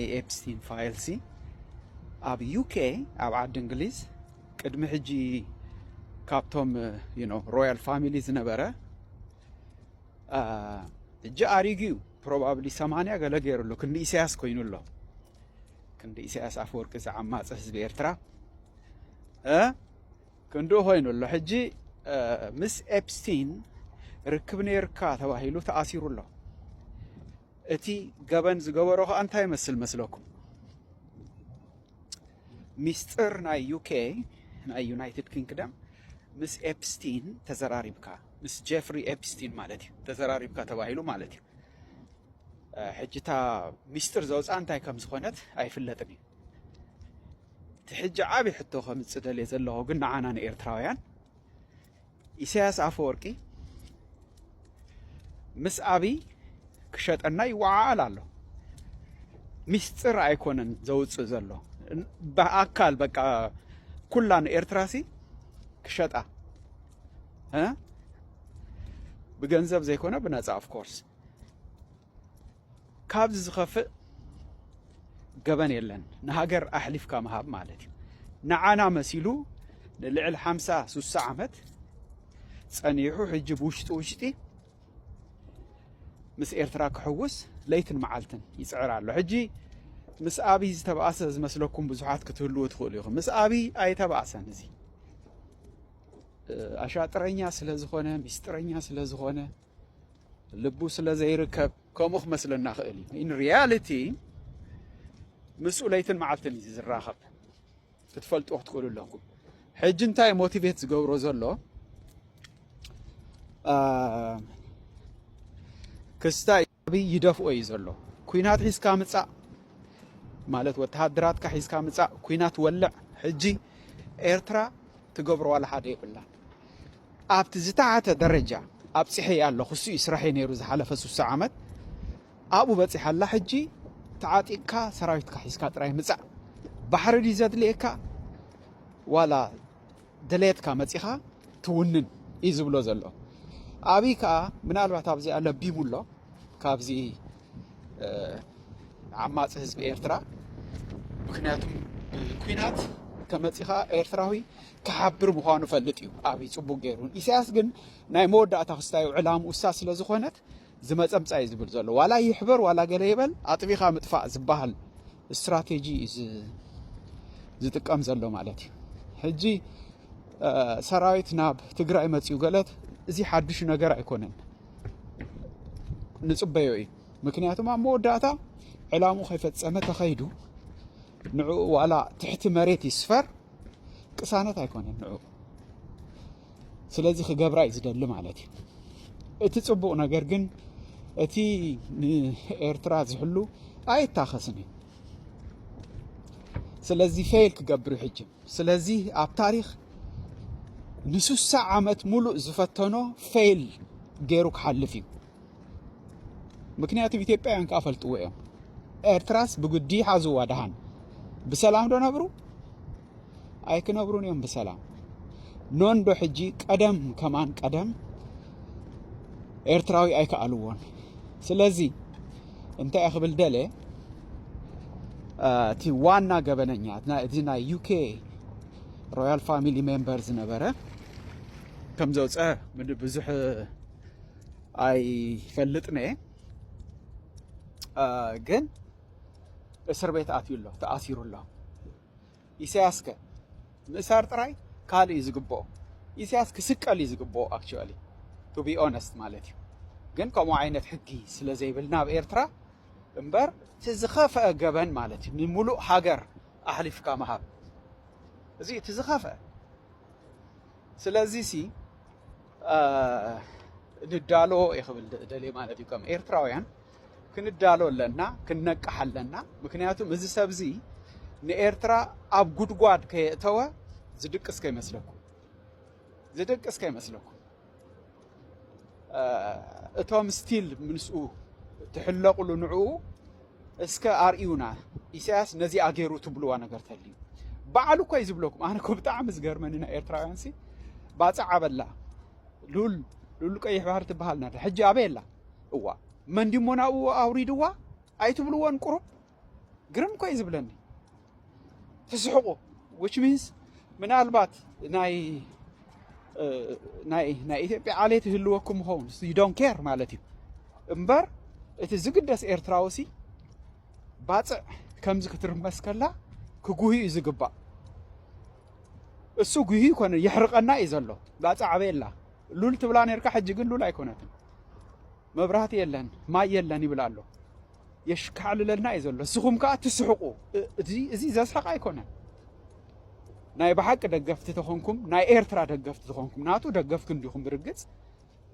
ናይ ኤፕስቲን ፋይልሲ ኣብ ዩኬ ኣብ ዓዲ እንግሊዝ ቅድሚ ሕጂ ካብቶም ዩኖ ሮያል ፋሚሊ ዝነበረ ሕጂ ኣሪጉ እዩ ፕሮባብሊ ሰማንያ ገለ ገይሩ ኣሎ ክንዲ ኢሳያስ ኮይኑ ኣሎ ክንዲ ኢሳያስ ኣፈወርቂ ዝዓማፀ ህዝቢ ኤርትራ ክንዲ ኮይኑ ኣሎ ሕጂ ምስ ኤፕስቲን ርክብ ነይርካ ተባሂሉ ተኣሲሩ ኣሎ እቲ ገበን ዝገበሮ ከኣ እንታይ ይመስል መስለኩም? ሚስጥር ናይ ዩኬ ናይ ዩናይትድ ኪንግደም ምስ ኤፕስቲን ተዘራሪብካ ምስ ጀፍሪ ኤፕስቲን ማለት እዩ ተዘራሪብካ ተባሂሉ ማለት እዩ። ሕጂ እታ ሚስጥር ዘውፅኣ እንታይ ከም ዝኾነት ኣይፍለጥን እዩ። እቲ ሕጂ ዓብዪ ሕቶ ከምፅእ ደልየ ዘለኹ ግን ንዓና ንኤርትራውያን ኢሳያስ ኣፈወርቂ ምስ ኣብይ ክሸጠና ይወዓዓል ኣሎ። ሚስጥር ኣይኮነን ዘውፅእ ዘሎ ብኣካል በቃ ኩላ ንኤርትራሲ ክሸጣ ብገንዘብ ዘይኮነ ብነፃ ኦፍኮርስ ካብዚ ዝኸፍእ ገበን የለን። ንሃገር ኣሕሊፍካ ምሃብ ማለት እዩ። ንዓና መሲሉ ንልዕል ሓምሳ ሱሳ ዓመት ጸኒሑ ሕጂ ብውሽጢ ውሽጢ ምስ ኤርትራ ክሕውስ ለይትን መዓልትን ይጽዕር ኣሎ። ሕጂ ምስ ኣብይ ዝተባእሰ ዝመስለኩም ብዙሓት ክትህልዎ ትኽእሉ ኢኹም። ምስ ኣብይ ኣይተባእሰን እዚ ኣሻጥረኛ ስለ ዝኾነ ሚስጥረኛ ስለ ዝኾነ ልቡ ስለ ዘይርከብ ከምኡ ክመስለና ክእል እዩ ኢን ሪያሊቲ ምስኡ ለይትን መዓልትን እዩ ዝራኸብ ክትፈልጡ ክትክእሉ ኣለኩም ሕጂ እንታይ ሞቲቬት ዝገብሮ ዘሎ ክስታይ ኣብይ ይደፍኦ እዩ ዘሎ ኩናት ሒዝካ ምጻእ ማለት ወተሃደራትካ ሒዝካ ምጻእ ኩናት ወልዕ ሕጂ ኤርትራ ትገብሮ ዋላ ሓደ የብላን ኣብቲ ዝተሓተ ደረጃ ኣብጽሐ ኣሎ ክሱ እዩ ስራሐ ነይሩ ዝሓለፈ ሱሳ ዓመት ኣብኡ በጺሓ ኣላ ሕጂ ተዓጢቕካ ሰራዊትካ ሒዝካ ጥራይ ምጻእ ባሕሪ ድዩ ዘድልየካ ዋላ ድሌትካ መጺኻ ትውንን እዩ ዝብሎ ዘሎ ኣብይ ከዓ ምናልባት ኣብዚኣ ለቢሙ ኣሎ ካብዚ ዓማፂ ህዝቢ ኤርትራ ምክንያቱ ኩናት ከመፂኻ ኤርትራዊ ክሓብር ምዃኑ ፈልጥ እዩ ኣብይ ፅቡቅ ገይሩ ኢሳያስ ግን ናይ መወዳእታ ክስታዩ ዕላም ውሳ ስለ ዝኾነት ዝመፀምፃ እዩ ዝብል ዘሎ ዋላ ይሕበር ዋላ ገለ ይበል ኣጥቢኻ ምጥፋእ ዝበሃል ስትራቴጂ እዩ ዝጥቀም ዘሎ ማለት እዩ። ሕጂ ሰራዊት ናብ ትግራይ መፅኡ ገለት እዚ ሓዱሽ ነገር ኣይኮነን፣ ንፅበዮ እዩ። ምክንያቱም ኣብ መወዳእታ ዕላሙ ከይፈፀመ ተኸይዱ ንዕኡ ዋላ ትሕቲ መሬት ይስፈር ቅሳነት ኣይኮነን ንዕኡ ስለዚ ክገብራ እዩ ዝደሊ ማለት እዩ እቲ ፅቡቅ ነገር ግን እቲ ንኤርትራ ዝሕሉ ኣይታኸስን እዩ ስለዚ ፌል ክገብር እዩ ሕጂ ስለዚ ኣብ ታሪክ ንስሳ ዓመት ሙሉእ ዝፈተኖ ፌል ገይሩ ክሓልፍ እዩ ምክንያቱ ኢትዮጵያውያን ከዓ ፈልጥዎ እዮም ኤርትራስ ብግዲ ሓዝዋ ድሃን ብሰላም ዶ ነብሩ ኣይክነብሩን እዮም ብሰላም ኖንዶ ሕጂ ቀደም ከማን ቀደም ኤርትራዊ ኣይከኣልዎን ስለዚ እንታይ እየ ክብል ደለ እቲ ዋና ገበነኛ እዚ ናይ ዩኬ ሮያል ፋሚሊ ሜምበር ዝነበረ ከም ዘውፀ ብዙሕ ኣይፈልጥነ ግን እስር ቤት ኣትዩ ኣሎ ተኣሲሩ ኣሎ ኢሳያስከ ምእሳር ጥራይ ካልእ እዩ ዝግብኦ ኢሳያስ ክስቀል እዩ ዝግብኦ ኣክቹዋሊ ቱ ቢ ኦነስት ማለት እዩ ግን ከምኡ ዓይነት ሕጊ ስለ ዘይብልና ኣብ ኤርትራ እምበር እቲ ዝኸፍአ ገበን ማለት እዩ ንሙሉእ ሃገር ኣሕሊፍካ ምሃብ እዚ እቲ ዝኸፍአ ስለዚ ሲ ንዳሎ ይኽብል ደልየ ማለት እዩ ከም ኤርትራውያን ክንዳሎ ኣለና፣ ክንነቅሕ ኣለና። ምክንያቱም እዚ ሰብ እዚ ንኤርትራ ኣብ ጉድጓድ ከየእተወ ዝድቅስ ከይመስለኩም፣ ዝድቅስ ከይመስለኩም። እቶም ስቲል ምስኡ ትሕለቕሉ ንዕኡ እስከ ኣርእዩና ኢሳያስ ነዚ ኣገይሩ ትብልዋ ነገር ተልዩ በዓሉ እኮ እዩ ዝብለኩም። ኣነ እኮ ብጣዕሚ ዝገርመኒ ናይ ኤርትራውያን ሲ ባፅዕ ኣበላ ሉል ሉል ቀይሕ ባህር ትበሃል ነራ ሕጂ ኣበይ ኣላ? እዋእ መን ድዩሞ ናብኡ ኣውሪድዋ ኣይትብልዎን ቁሩብ ግርም እኮዩ ዝብለኒ ትስሕቁ which means ምናልባት ናይ ናይ ናይ ኢትዮጵያ ዓሌት ይህልወኩም ይኸውን ዩ ዶን ኬር ማለት እዩ እምበር እቲ ዝግደስ ኤርትራዊ ሲ ባፅዕ ከምዚ ክትርመስ ከላ ክጉህዩ እዩ ዝግባእ እሱ ጉህዩ ኮነ የሕርቀና እዩ ዘሎ ባፅዕ ኣበየላ ሉል ትብላ ነርካ ሕጂ ግን ሉል ኣይኮነትን መብራህቲ የለን ማይ የለን ይብል ኣሎ የሽካዕልለልና እዩ ዘሎ ንስኹም ከዓ ትስሕቁ እዚ ዘስሕቅ ኣይኮነን ናይ ብሓቂ ደገፍቲ ተኾንኩም ናይ ኤርትራ ደገፍቲ ተኾንኩም ናቱ ደገፍቲ እንዲኹም ብርግፅ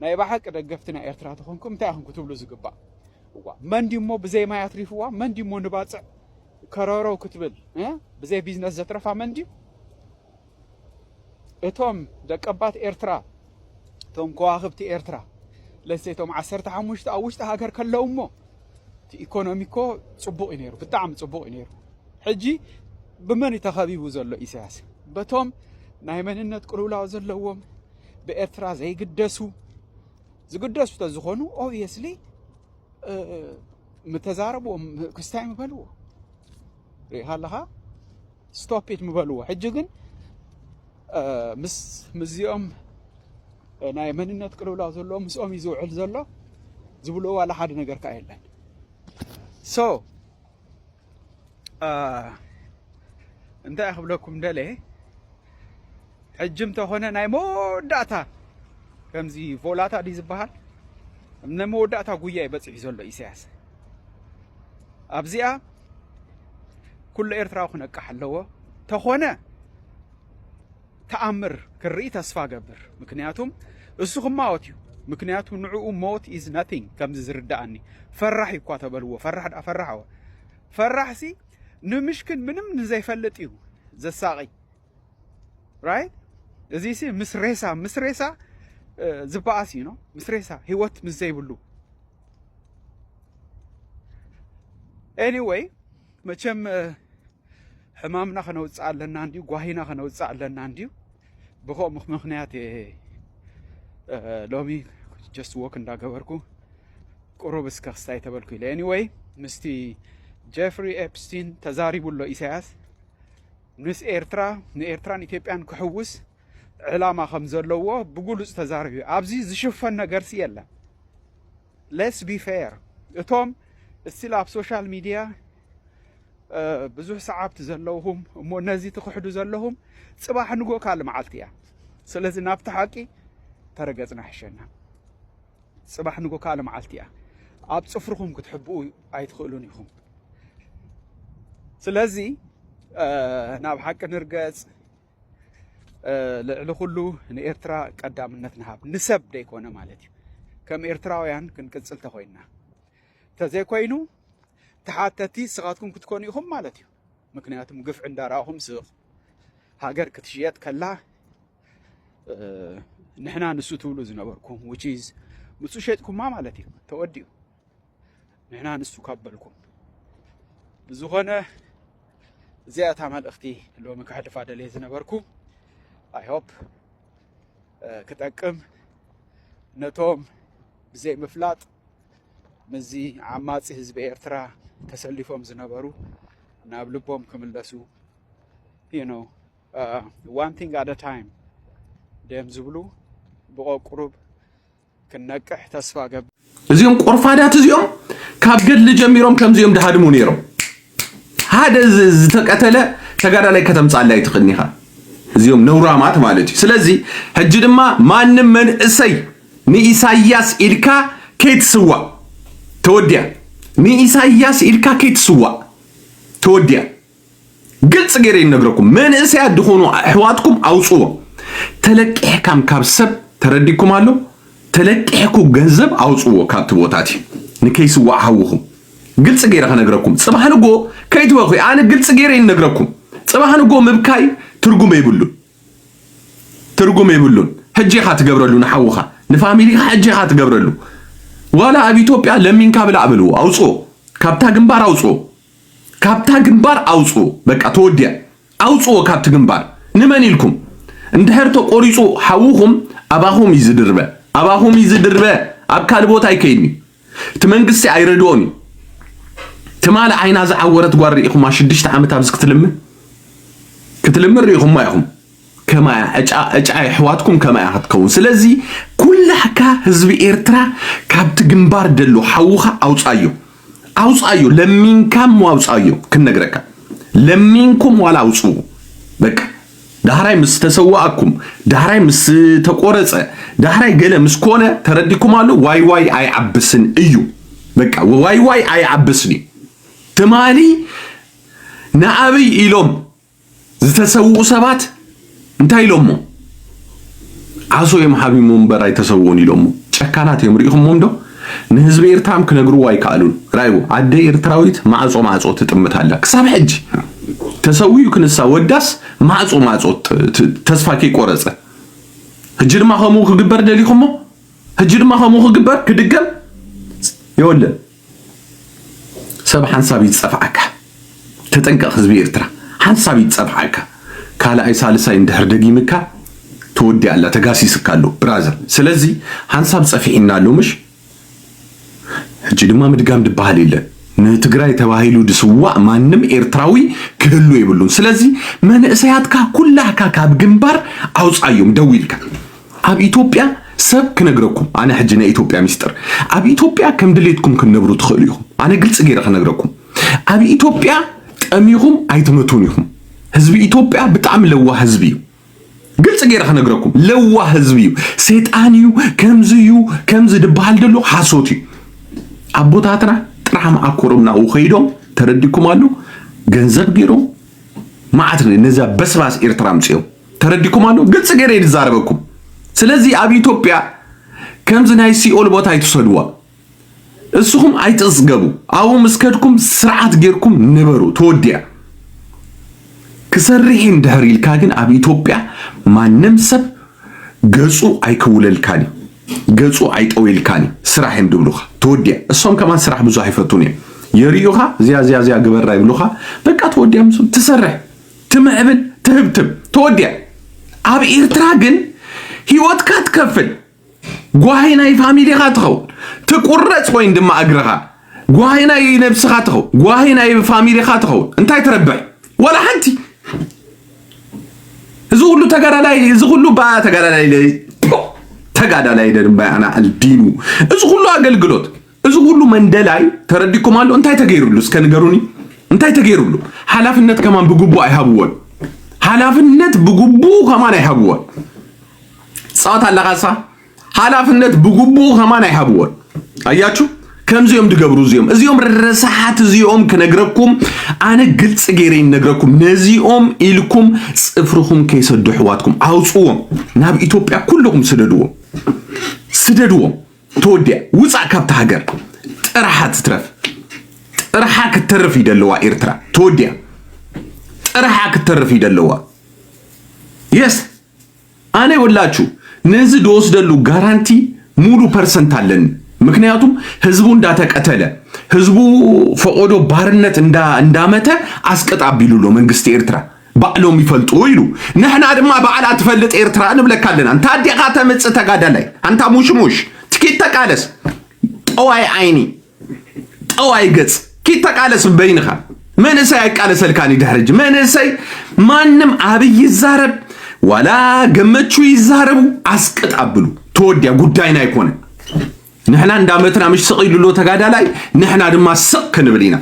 ናይ ብሓቂ ደገፍቲ ናይ ኤርትራ ተኾንኩም እንታይ ኢኹም ክትብሉ ዝግባእ እዋ መን ድሞ ብዘይ ማይ ኣትሪፍዋ መን ድሞ ንባፅዕ ከረረው ክትብል ብዘይ ቢዝነስ ዘትረፋ መን ድዩ እቶም ደቀባት ኤርትራ እቶም ከዋኽብቲ ኤርትራ ለሴቶም ዓሰርተ ሓሙሽተ ኣብ ውሽጢ ሃገር ከለው እሞ እቲ ኢኮኖሚ እኮ ጽቡቕ እዩ ነይሩ፣ ብጣዕሚ ጽቡቕ እዩ ነይሩ። ሕጂ ብመን እዩ ተኸቢቡ ዘሎ ኢሳያስ? በቶም ናይ መንነት ቅልውላው ዘለዎም ብኤርትራ ዘይግደሱ ዝግደሱ ተዝኾኑ ኦብየስሊ ምተዛረብዎም ክስታይ ምበልዎ ሪኢኻ ኣለኻ ስቶፕ ኢት ምበልዎ ሕጂ ግን ምስ ምስዚኦም ናይ መንነት ቅልውላው ዘለዎ ምስኦም እዩ ዝውዕል ዘሎ ዝብልዎ ዋላ ሓደ ነገር ከዓ የለን ሶ እንታይ ክብለኩም ደለ ሕጂ እንተኾነ ናይ መወዳእታ ከምዚ ቮላታ ድዩ ዝበሃል ናይ መወዳእታ ጉያ እዩ በፂሑ ዘሎ ኢሳያስ ኣብዚኣ ኩሉ ኤርትራዊ ክነቅሕ ኣለዎ ተኾነ ተኣምር ክርኢ ተስፋ ገብር ምክንያቱም እሱ ክማወት እዩ ምክንያቱ ንዕኡ ሞት ኢዝ ናቲንግ ከምዚ ዝርዳእኒ ፈራሕ እዩ እኳ ተበልዎ ፈራሕ ዳ ፈራሕ ወ ፈራሕሲ ንምሽክን ምንም ንዘይፈልጥ እዩ ዘሳቒ ራይት እዚ ሲ ምስ ሬሳ ምስ ሬሳ ዝበኣስ እዩ ነው ምስ ሬሳ ህይወት ምስ ዘይብሉ ኤኒወይ መቸም ሕማምና ከነውፅእ ኣለና እንዲዩ ጓሂና ከነውፅእ ኣለና እንዲዩ ብከምኡ ምክንያት እየ ሎሚ ጀስት ወክ እንዳገበርኩ ቁሩብ እስከ ክስታይ ተበልኩ ኢለ ኤኒወይ ምስቲ ጀፍሪ ኤፕስቲን ተዛሪቡ ኣሎ ኢሳያስ ምስ ኤርትራ፣ ንኤርትራን ኢትዮጵያን ክሕውስ ዕላማ ከም ዘለዎ ብግሉጽ ተዛሪቡ እዩ። ኣብዚ ዝሽፈን ነገርሲ የለን። ሌትስ ቢ ፌር እቶም እስቲል ኣብ ሶሻል ሚድያ ብዙሕ ሰዓብቲ ዘለውኹም እሞ ነዚ ትኽሕዱ ዘለኹም ጽባሕ ንጎ ካልእ መዓልቲ እያ። ስለዚ ናብቲ ሓቂ ተረገጽና ሕሸና። ጽባሕ ንጎ ካልእ መዓልቲ እያ። ኣብ ጽፍርኹም ክትሕብኡ ኣይትኽእሉን ኢኹም። ስለዚ ናብ ሓቂ ንርገጽ። ልዕሊ ኩሉ ንኤርትራ ቀዳምነት ንሃብ ንሰብ ደይኮነ ማለት እዩ ከም ኤርትራውያን ክንቅጽል ተኮይንና ተዘይኮይኑ ተሓተቲ ስኻትኩም ክትኮኑ ኢኹም ማለት እዩ ምክንያቱም ግፍዒ እንዳረኣኹም ስቕ ሃገር ክትሽየጥ ከላ ንሕና ንሱ ትብሉ ዝነበርኩም ዊች ኢዝ ንሱ ሸጥኩማ ማለት እዩ ተወዲኡ ንሕና ንሱ ካብ በልኩም ብዝኾነ እዚኣ እታ መልእኽቲ ሎሚ ከሕልፋ ደልየ ዝነበርኩ ኣይሆፕ ክጠቅም ነቶም ብዘይ ምፍላጥ ምስዚ ዓማፂ ህዝቢ ኤርትራ ተሰሊፎም ዝነበሩ ናብ ልቦም ክምለሱ ነው ዋን ቲንግ ኣደ ታይም ደም ዝብሉ ብቆቁሩብ ክነቅሕ ተስፋ ገብ እዚኦም ቆርፋዳት እዚኦም ካብ ገድሊ ጀሚሮም ከምዚኦም ድሃድሙ ነይሮም ሓደ ዝተቀተለ ተጋዳላይ ከተምፃለ ኣይትኽእልን ኢኻ እዚኦም ነውራማት ማለት እዩ ስለዚ ሕጂ ድማ ማንም መንእሰይ ንኢሳያስ ኢልካ ከይትስዋእ ተወዲያ ንኢሳያስ ኢልካ ከይትስዋእ ተወዲያ ግልፂ ገይረ ይነግረኩም መንእሰያት ዝኾኑ ኣሕዋትኩም ኣውፅዎ ተለቂሕካም ካብ ሰብ ተረዲኩም ኣሎ ተለቂሕኩ ገንዘብ ኣውፅዎ ካብቲ ቦታት እዩ ንከይስዋዕ ሃውኹም ግልፂ ገይረ ከነግረኩም ፅባሕ ንጎ ከይትበኹ ኣነ ግልፂ ገይረ ይነግረኩም ፅባሕ ንጎ ምብካይ ትርጉም የብሉን ትርጉም የብሉን ሕጂ ኢኻ ትገብረሉ ንሓውኻ ንፋሚሊኻ ሕጂ ኢኻ ትገብረሉ ዋላ ኣብ ኢትዮጵያ ለሚንካ ብላዕ በልዎ ኣውፅዎ ካብታ ግንባር ኣውፅዎ ካብታ ግንባር ኣውጽኡ በቃ ተወዲኣ ኣውጽዎ ካብቲ ግንባር ንመን ኢልኩም እንድሕር ተቆሪጹ ሓውኹም ኣባኹም እዩ ዝድርበ ኣባኹም እዩ ዝድርበ ኣብ ካልእ ቦታ ኣይከይድን እዩ እቲ መንግስቲ ኣይረድኦን እዩ ትማሊ ዓይና ዝዓወረት ጓል ርኢኹማ ሽዱሽተ ዓመት ኣብዚ ክትልምን ክትልምን ርኢኹማ ኢኹም ከማያ ዕጫ ዕጫ የሕዋትኩም ከማያ ክትከውን ስለዚ ኩላካ ህዝቢ ኤርትራ ካብቲ ግንባር ደሎ ሓውካ ኣውጻዮ ኣውጻዮ ለሚንካ እሞ ኣውጻዮ ክንነግረካ ለሚንኩም ዋላ ኣውጽኡ በቃ ዳህራይ ምስ ተሰዋእኩም ዳህራይ ምስ ተቆረጸ ዳህራይ ገለ ምስ ኮነ ተረዲኩም ኣሎ ዋይ ዋይ ኣይዓብስን እዩ በቃ ዋይ ዋይ ኣይዓብስን እዩ ትማሊ ንኣብይ ኢሎም ዝተሰውኡ ሰባት እንታይ ኢሎሞ ዓሶ እዮም ሓቢሞ እምበር ኣይተሰውኡን ኢሎሞ ጨካናት እዮም ርኢኹሞም ዶ ንህዝቢ ኤርትራም ክነግርዎ ኣይከኣሉን ራይዎ ኣደ ኤርትራዊት ማዕጾ ማዕጾ ትጥምት ኣላ ክሳብ ሕጂ ተሰዊኡ ክንሳ ወዳስ ማዕጾ ማዕጾ ተስፋ ከይቆረጸ ሕጂ ድማ ከምኡ ክግበር ደሊኹሞ ሕጂ ድማ ከምኡ ክግበር ክድገም የወለን ሰብ ሓንሳብ እዩ ዝጸፍዓካ ተጠንቀቅ ህዝቢ ኤርትራ ሓንሳብ እዩ ዝጸፍዓካ ካልኣይ ሳልሳይ እንድሕር ደጊምካ ተወዲኣ ኣላ ተጋሲስካ ኣሎ ብራዘር ስለዚ ሓንሳብ ጸፊዒና ኣሎ ምሽ ሕጂ ድማ ምድጋም ድበሃል የለን ንትግራይ ተባሂሉ ድስዋእ ማንም ኤርትራዊ ክህሉ የብሉን ስለዚ መንእሰያትካ ኩላህካ ካብ ግንባር ኣውጻዮም ደው ኢልካ ኣብ ኢትዮጵያ ሰብ ክነግረኩም ኣነ ሕጂ ናይ ኢትዮጵያ ሚስጥር ኣብ ኢትዮጵያ ከም ድሌትኩም ክንነብሩ ትኽእሉ ኢኹም ኣነ ግልፂ ገይረ ክነግረኩም ኣብ ኢትዮጵያ ጠሚኹም ኣይትመቱን ኢኹም ህዝቢ ኢትዮጵያ ብጣዕሚ ለዋህ ህዝቢ እዩ ግልፂ ገይረ ክነግረኩም ለዋህ ህዝቢ እዩ ሴጣን እዩ ከምዚ እዩ ከምዚ ድበሃል ደሎ ሓሶት እዩ ኣቦታትና ጥራሕ መኣኮሮም ናብኡ ከይዶም ተረዲኩም ኣሎ ገንዘብ ገይሮም መዓት ነዛ በስባስ ኤርትራ ኣምፅኦም ተረዲኩም ኣሎ ግልፂ ገይረ ዝዛረበኩም ስለዚ ኣብ ኢትዮጵያ ከምዚ ናይ ሲኦል ቦታ ኣይትውሰድዋ እስኹም ኣይትፅገቡ ኣብኡ ምስ ከድኩም ስርዓት ጌርኩም ንበሩ ተወዲያ ክሰርሕ እንድሕር ኢልካ ግን ኣብ ኢትዮጵያ ማንም ሰብ ገፁ ኣይክውለልካን እዩ ገፁ ኣይጠወልካን እዩ ስራሕ እዮም ድብሉኻ ተወዲያ እሶም ከማን ስራሕ ብዙሕ ኣይፈቱን እዮም የርእዩኻ እዚያ እዚያ እዚያ ግበራ ይብሉኻ በቃ ተወዲያ ትሰርሕ ትምዕብል ትህብትብ ተወዲያ ኣብ ኤርትራ ግን ሂወትካ ትከፍል ጓሂ ናይ ፋሚሊኻ ትኸውን ትቁረጽ ወይን ድማ እግርኻ ጓሂ ናይ ነብስኻ ትኸውን ጓሂ ናይ ፋሚሊኻ ትኸውን እንታይ ትረብሕ ወላ ሓንቲ እዚ ሁሉ ተጋዳላይ እዚ ሁሉ ባ ተጋዳላይ ተጋዳላይ ደንባይ ኣናዕል ዲኑ እዚ ሁሉ ኣገልግሎት እዚ ኩሉ መንደላይ ተረዲኩም ኣሎ እንታይ ተገይሩሉ እስከ ንገሩኒ እንታይ ተገይሩሉ ሓላፍነት ከማን ብግቡእ ኣይሃብዎን ሓላፍነት ብግቡእ ከማን ኣይሃብዎን ጸዋት ኣለኻሳ ሓላፍነት ብግቡእ ከማን ኣይሃብዎን ኣያችሁ ከምዚኦም ድገብሩ እዚኦም እዚኦም ረሳሓት እዚኦም ክነግረኩም ኣነ ግልፂ ገይረ ይነግረኩም ነዚኦም ኢልኩም ፅፍርኹም ከይሰዱ ኣሕዋትኩም ኣውፅዎም ናብ ኢትዮጵያ ኩልኹም ስደድዎም ስደድዎም ተወዲኣ ውጻእ ካብታ ሃገር ጥራሓ ትትረፍ ጥራሓ ክትተርፍ እዩ ደለዋ ኤርትራ ተወዲኣ ጥራሓ ክትተርፍ እዩ ደለዋ የስ ኣነ ይወላችሁ ነዚ ዝወስደሉ ጋራንቲ ሙሉ ፐርሰንት ኣለኒ። ምክንያቱም ህዝቡ እንዳተቀተለ ህዝቡ ፈቆዶ ባርነት እንዳመተ ኣስቀጥ ኣቢሉ ኣሎ መንግስቲ ኤርትራ ባዕሎም ይፈልጡ ኢሉ ንሕና ድማ ባዕላ ትፈልጥ ኤርትራ ንብለካ ኣለና እንታ ዲኻ ተምጽእ ተጋዳላይ ኣንታ ሙሽሙሽ ትኪድ ተቃለስ ጠዋይ ዓይኒ ጠዋይ ገጽ ኪድ ተቃለስ በይንኻ መንእሰይ ኣይቃለሰልካን እዩ ድሕሪ ሕጂ መንእሰይ ማንም ኣብይ ይዛረብ ዋላ ገመቹ ይዛረቡ ኣስቅጥ ኣብሉ ተወዲያ ጉዳይና ኣይኮነን ንሕና እንዳመትና ምሽ ስቕ ኢሉ ኣሎ ተጋዳላይ ንሕና ድማ ስቕ ክንብል ኢና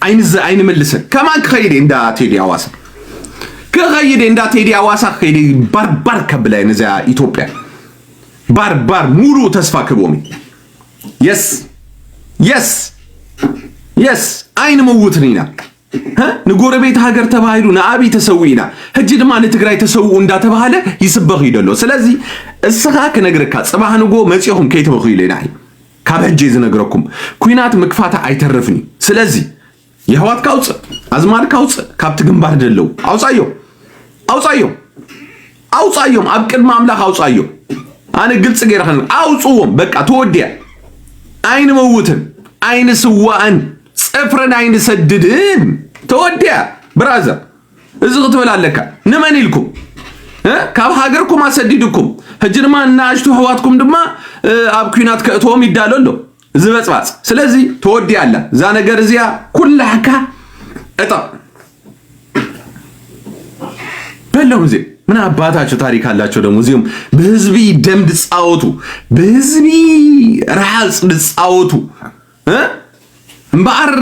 ኣይንዘ ኣይንምልስን ከማን ክኸይድ እየ እንዳ ቴዲ ኣዋሳ ክኸይድ እየ እንዳ ቴዲ ኣዋሳ ክኸይድ እየ ባርባር ከብላ እየ ነዚኣ ኢትዮጵያ ባርባር ሙሉእ ተስፋ ክህቦም የስ የስ የስ ኣይንምውትን ኢና ንጎረቤት ሃገር ተባሂሉ ንኣብይ ተሰዊእና ሕጂ ድማ ንትግራይ ተሰውኡ እንዳተባሃለ ይስበኽ እዩ ዘሎ ስለዚ እስኻ ክነግረካ ፅባህ ንጎ መፂኹም ከይትበኽዩ ኢለ ንዓይ ካብ ሕጂ ዝነግረኩም ኩናት ምክፋታ ኣይተርፍን እዩ ስለዚ የሕዋትካ ኣውፅእ ኣዝማድካ ኣውፅእ ካብቲ ግንባር ደለው ኣውፃዮ ኣውፃዮ ኣውጻዮም ኣብ ቅድሚ ኣምላኽ ኣውጻዮም። ኣነ ግልጽ ገይረ ከን ኣውጽዎም በቃ ተወዲያ። ኣይንመውትን ኣይንስዋእን ጽፍርን ኣይንሰድድን ተወዲያ። ብራዘር እዚ ክትብል ኣለካ። ንመን ኢልኩም ካብ ሃገርኩም ኣሰዲድኩም ሕጂ ድማ እናኣሽቱ ኣሕዋትኩም ድማ ኣብ ኩናት ከእትዎም ይዳሎ ኣሎ። እዚ በጽባጽ ስለዚ ተወዲኣ ኣላ እዛ ነገር እዚኣ ኩላሕካ እጠቕ በሎም እዚ ምን አባታቸው ታሪክ አላቸው ደግሞ እዚም በህዝቢ ደም ድጻወቱ በህዝቢ ረሃጽ ድጻወቱ እምበኣር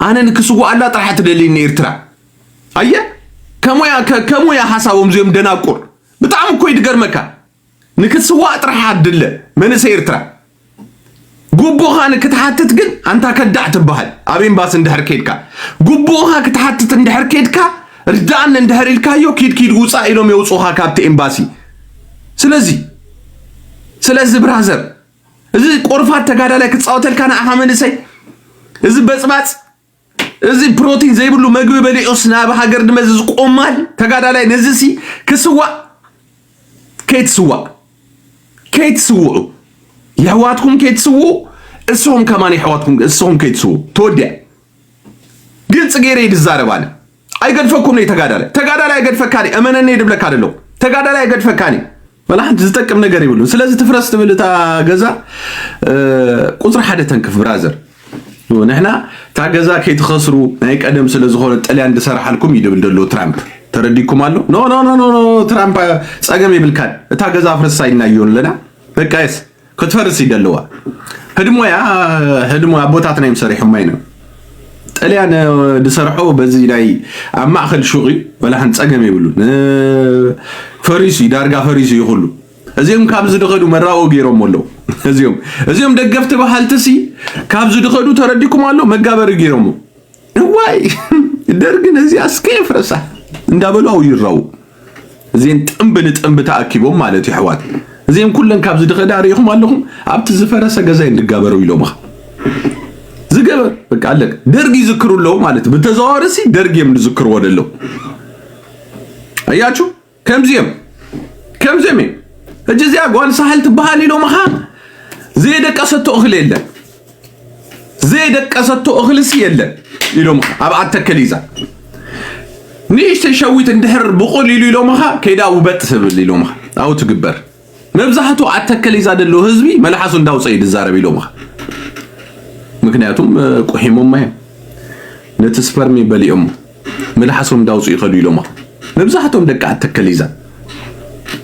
ኣነ ንክስዋኣላ ጥራሕ ትደልይኒ ኤርትራ ኣየ ከሙያ ከሙያ ሓሳቦም እዚኦም ደናቁር ብጣዕሚ እኮ ይድገርመካ ንክትስዋእ ጥራሕ ኣድለ መንእሰይ ኤርትራ ጉቡእኻ ንክትሓትት ግን ኣንታ ከዳዕ ትበሃል ኣብ ኤምባሲ እንድሕር ኬድካ ጉቡእኻ ክትሓትት እንድሕር ኬድካ ርዳእኒ እንድሕር ኢልካዮ ኪድ ኪድ ውፃእ ኢሎም የውፁኻ ካብቲ ኤምባሲ ስለዚ ስለዚ ብራዘር እዚ ቆርፋት ተጋዳላይ ክፃወተልካ ንዓኻ መንእሰይ እዚ በፅባፅ እዚ ፕሮቲን ዘይብሉ መግቢ በሊዑስ ናብ ሃገር ድመዚ ዝቆማል ተጋዳላይ ነዚ ሲ ክስዋእ ከይትስዋእ ከይትስውዑ የሕዋትኩም ከይትስውኡ እስኹም ከማን የሕዋትኩም እስኹም ከይትስውኡ ተወዲያ ግልፂ ገይረ ይድዛረብ ኣነ ኣይገድፈኩምን'ዩ ተጋዳላይ ተጋዳላይ ኣይገድፈካን'ዩ እመነኒ ድብለካ ደለኹ ተጋዳላይ ኣይገድፈካን'ዩ ወላ ሓንቲ ዝጠቅም ነገር ይብሉን ስለዚ ትፍረስ ትብል እታ ገዛ ቁፅሪ ሓደ ተንክፍ ብራዘር ንሕና እታ ገዛ ከይትኸስሩ ናይ ቀደም ስለ ዝኾነ ጥልያን ዝሰርሓልኩም እዩ ድብል ደሎ ትራምፕ ተረዲኩም ኣሎ ኖ ኖ ኖ ትራምፕ ፀገም ይብልካን እታ ገዛ ፍርሳ ይናዮ ኣለና በቃ የስ ክትፈርስ ይደልዋ ህድሞያ ህድሞ ኣቦታትና እዮም ሰሪሖማ ኢና ጥልያን ዝሰርሖ በዚ ናይ ኣብ ማእከል ሹቅ እዩ ወላሓን ፀገም የብሉን ፈሪሱ እዩ ዳርጋ ፈሪሱ እዩ ኩሉ እዚኦም ካብ ዝድኸዱ መራኦ ገይሮም ኣለዉ እዚኦም እዚኦም ደገፍቲ በሃልቲ ሲ ካብ ዝድኸዱ ተረዲኩም ኣሎ መጋበሪ ገይሮም እዋይ ደርግ ነዚኣ እስከ የፍረሳ እንዳበሉ ኣው ይራው እዚን ጥንብ ንጥንብ ተኣኪቦም ማለት ይሕዋት እዚም ኩለን ካብዚ ድኸዳ ሪኢኹም ኣለኹም ኣብቲ ዝፈረሰ ገዛ እንድጋበረው ኢሎምኻ ዝገበር በቃ ኣለቅ ደርግ ይዝክሩ ኣለዉ ማለት ብተዘዋዋሪ ሲ ደርግ እዮም ዝዝክርዎ ደለው ኣያችሁ ከምዚኦም ከምዚኦም እዮም ሕጂ እዚኣ ጓል ሳሕል ትበሃል ኢሎምኻ ዘየደቀሰቶ እኽሊ የለን ዘየደቀሰቶ እኽልሲ የለን ኢሎምኻ ኣብ ኣተከል ይዛ ንእሽተይ ሸዊት እንድሕር ብቑል ኢሉ ኢሎምኻ ከይዳ ውበጥ ትብል ኢሎምኻ ኣብኡ ትግበር መብዛሕቱ ኣብ ተከሊዛ ደሎ ህዝቢ መልሓሱ እንዳውፀ እዩ ድዛረብ ኢሎምኻ ምክንያቱም ቁሒሞማ እዮም ነቲ ስፐርሚ በሊኦሞ መልሓሶም እንዳውፅኡ ይኸዱ ኢሎማ መብዛሕቶም ደቂ ኣተከሊዛ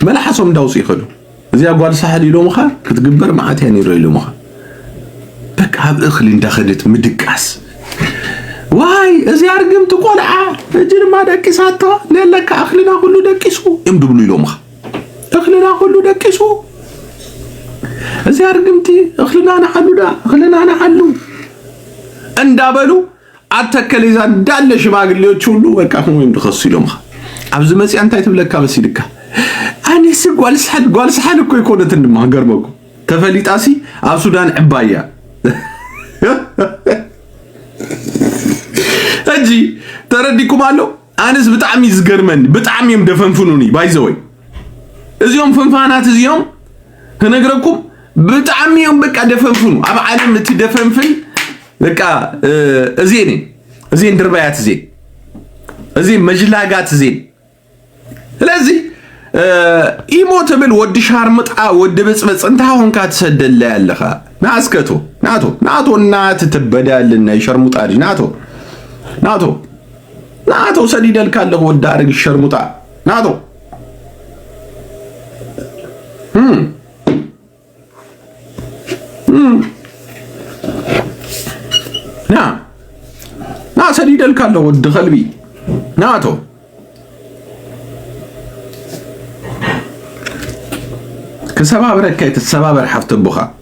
መልሓሶም እንዳውፅኡ ይኸዱ እዚያ ጓል ሳሕል ኢሎምኻ ክትግበር መዓት እያ ነይሮ ኢሎምኻ በቃ ኣብ እኽሊ እንዳኸደት ምድቃስ ዋይ እዚያ ርግምቲ ቆልዓ እጅ ድማ ደቂሳቶ ነለካ እኽልና ኩሉ ደቂሱ እዮም ድብሉ ኢሎምኻ እኽልና ኩሉ ደቂሱ እዚኣ ርግምቲ እኽልና ንሓሉዳ እኽልና ንሓሉ እንዳበሉ ኣብ ተከሌዛ እንዳለ ሽማግሌዎች ሁሉ በቃ ወይም ድኸሱ ኢሎምኻ ኣብዚ መፅያ እንታይ ትብለካ መሲልካ ኣነሲ ጓልስሓል ጓልስሓል እኮ ይኮነትን ድማ ገርመኩ ተፈሊጣሲ ኣብ ሱዳን ዕባያ ሕጂ ተረዲኩም ኣሎ ኣነስ ብጣዕሚ ዝገርመኒ ብጣዕሚ እዮም ደፈንፍኑኒ ባይዘወይ እዚኦም ፍንፋናት እዚኦም ክነግረኩም ብጣዕሚ እዮም በቃ ደፈንፍኑ ኣብ ዓለም እቲ ደፈንፍን በቃ እዜን እዜን ድርባያት እዜን እዜን መጅላጋት እዜን ስለዚ ኢሞ ትብል ወዲ ሻርምጣ ወዲ ብፅበፅ እንታይ ሆንካ ትሰደለ ኣለኻ ናስከቶ ናቶ ናቶ እናትትበዳልን ናይ ሸርሙጣ ናቶ ናቶ ናቶ ሰዲደልካ ኣለኹ ወዲ ኣረጊት ሸርሙጣ ናቶ ና ና ሰዲደልካ ኣለኹ ወዲ ከልቢ ናቶ ክሰባብረካ ተሰባበር ሓፍቲ ኣቦኻ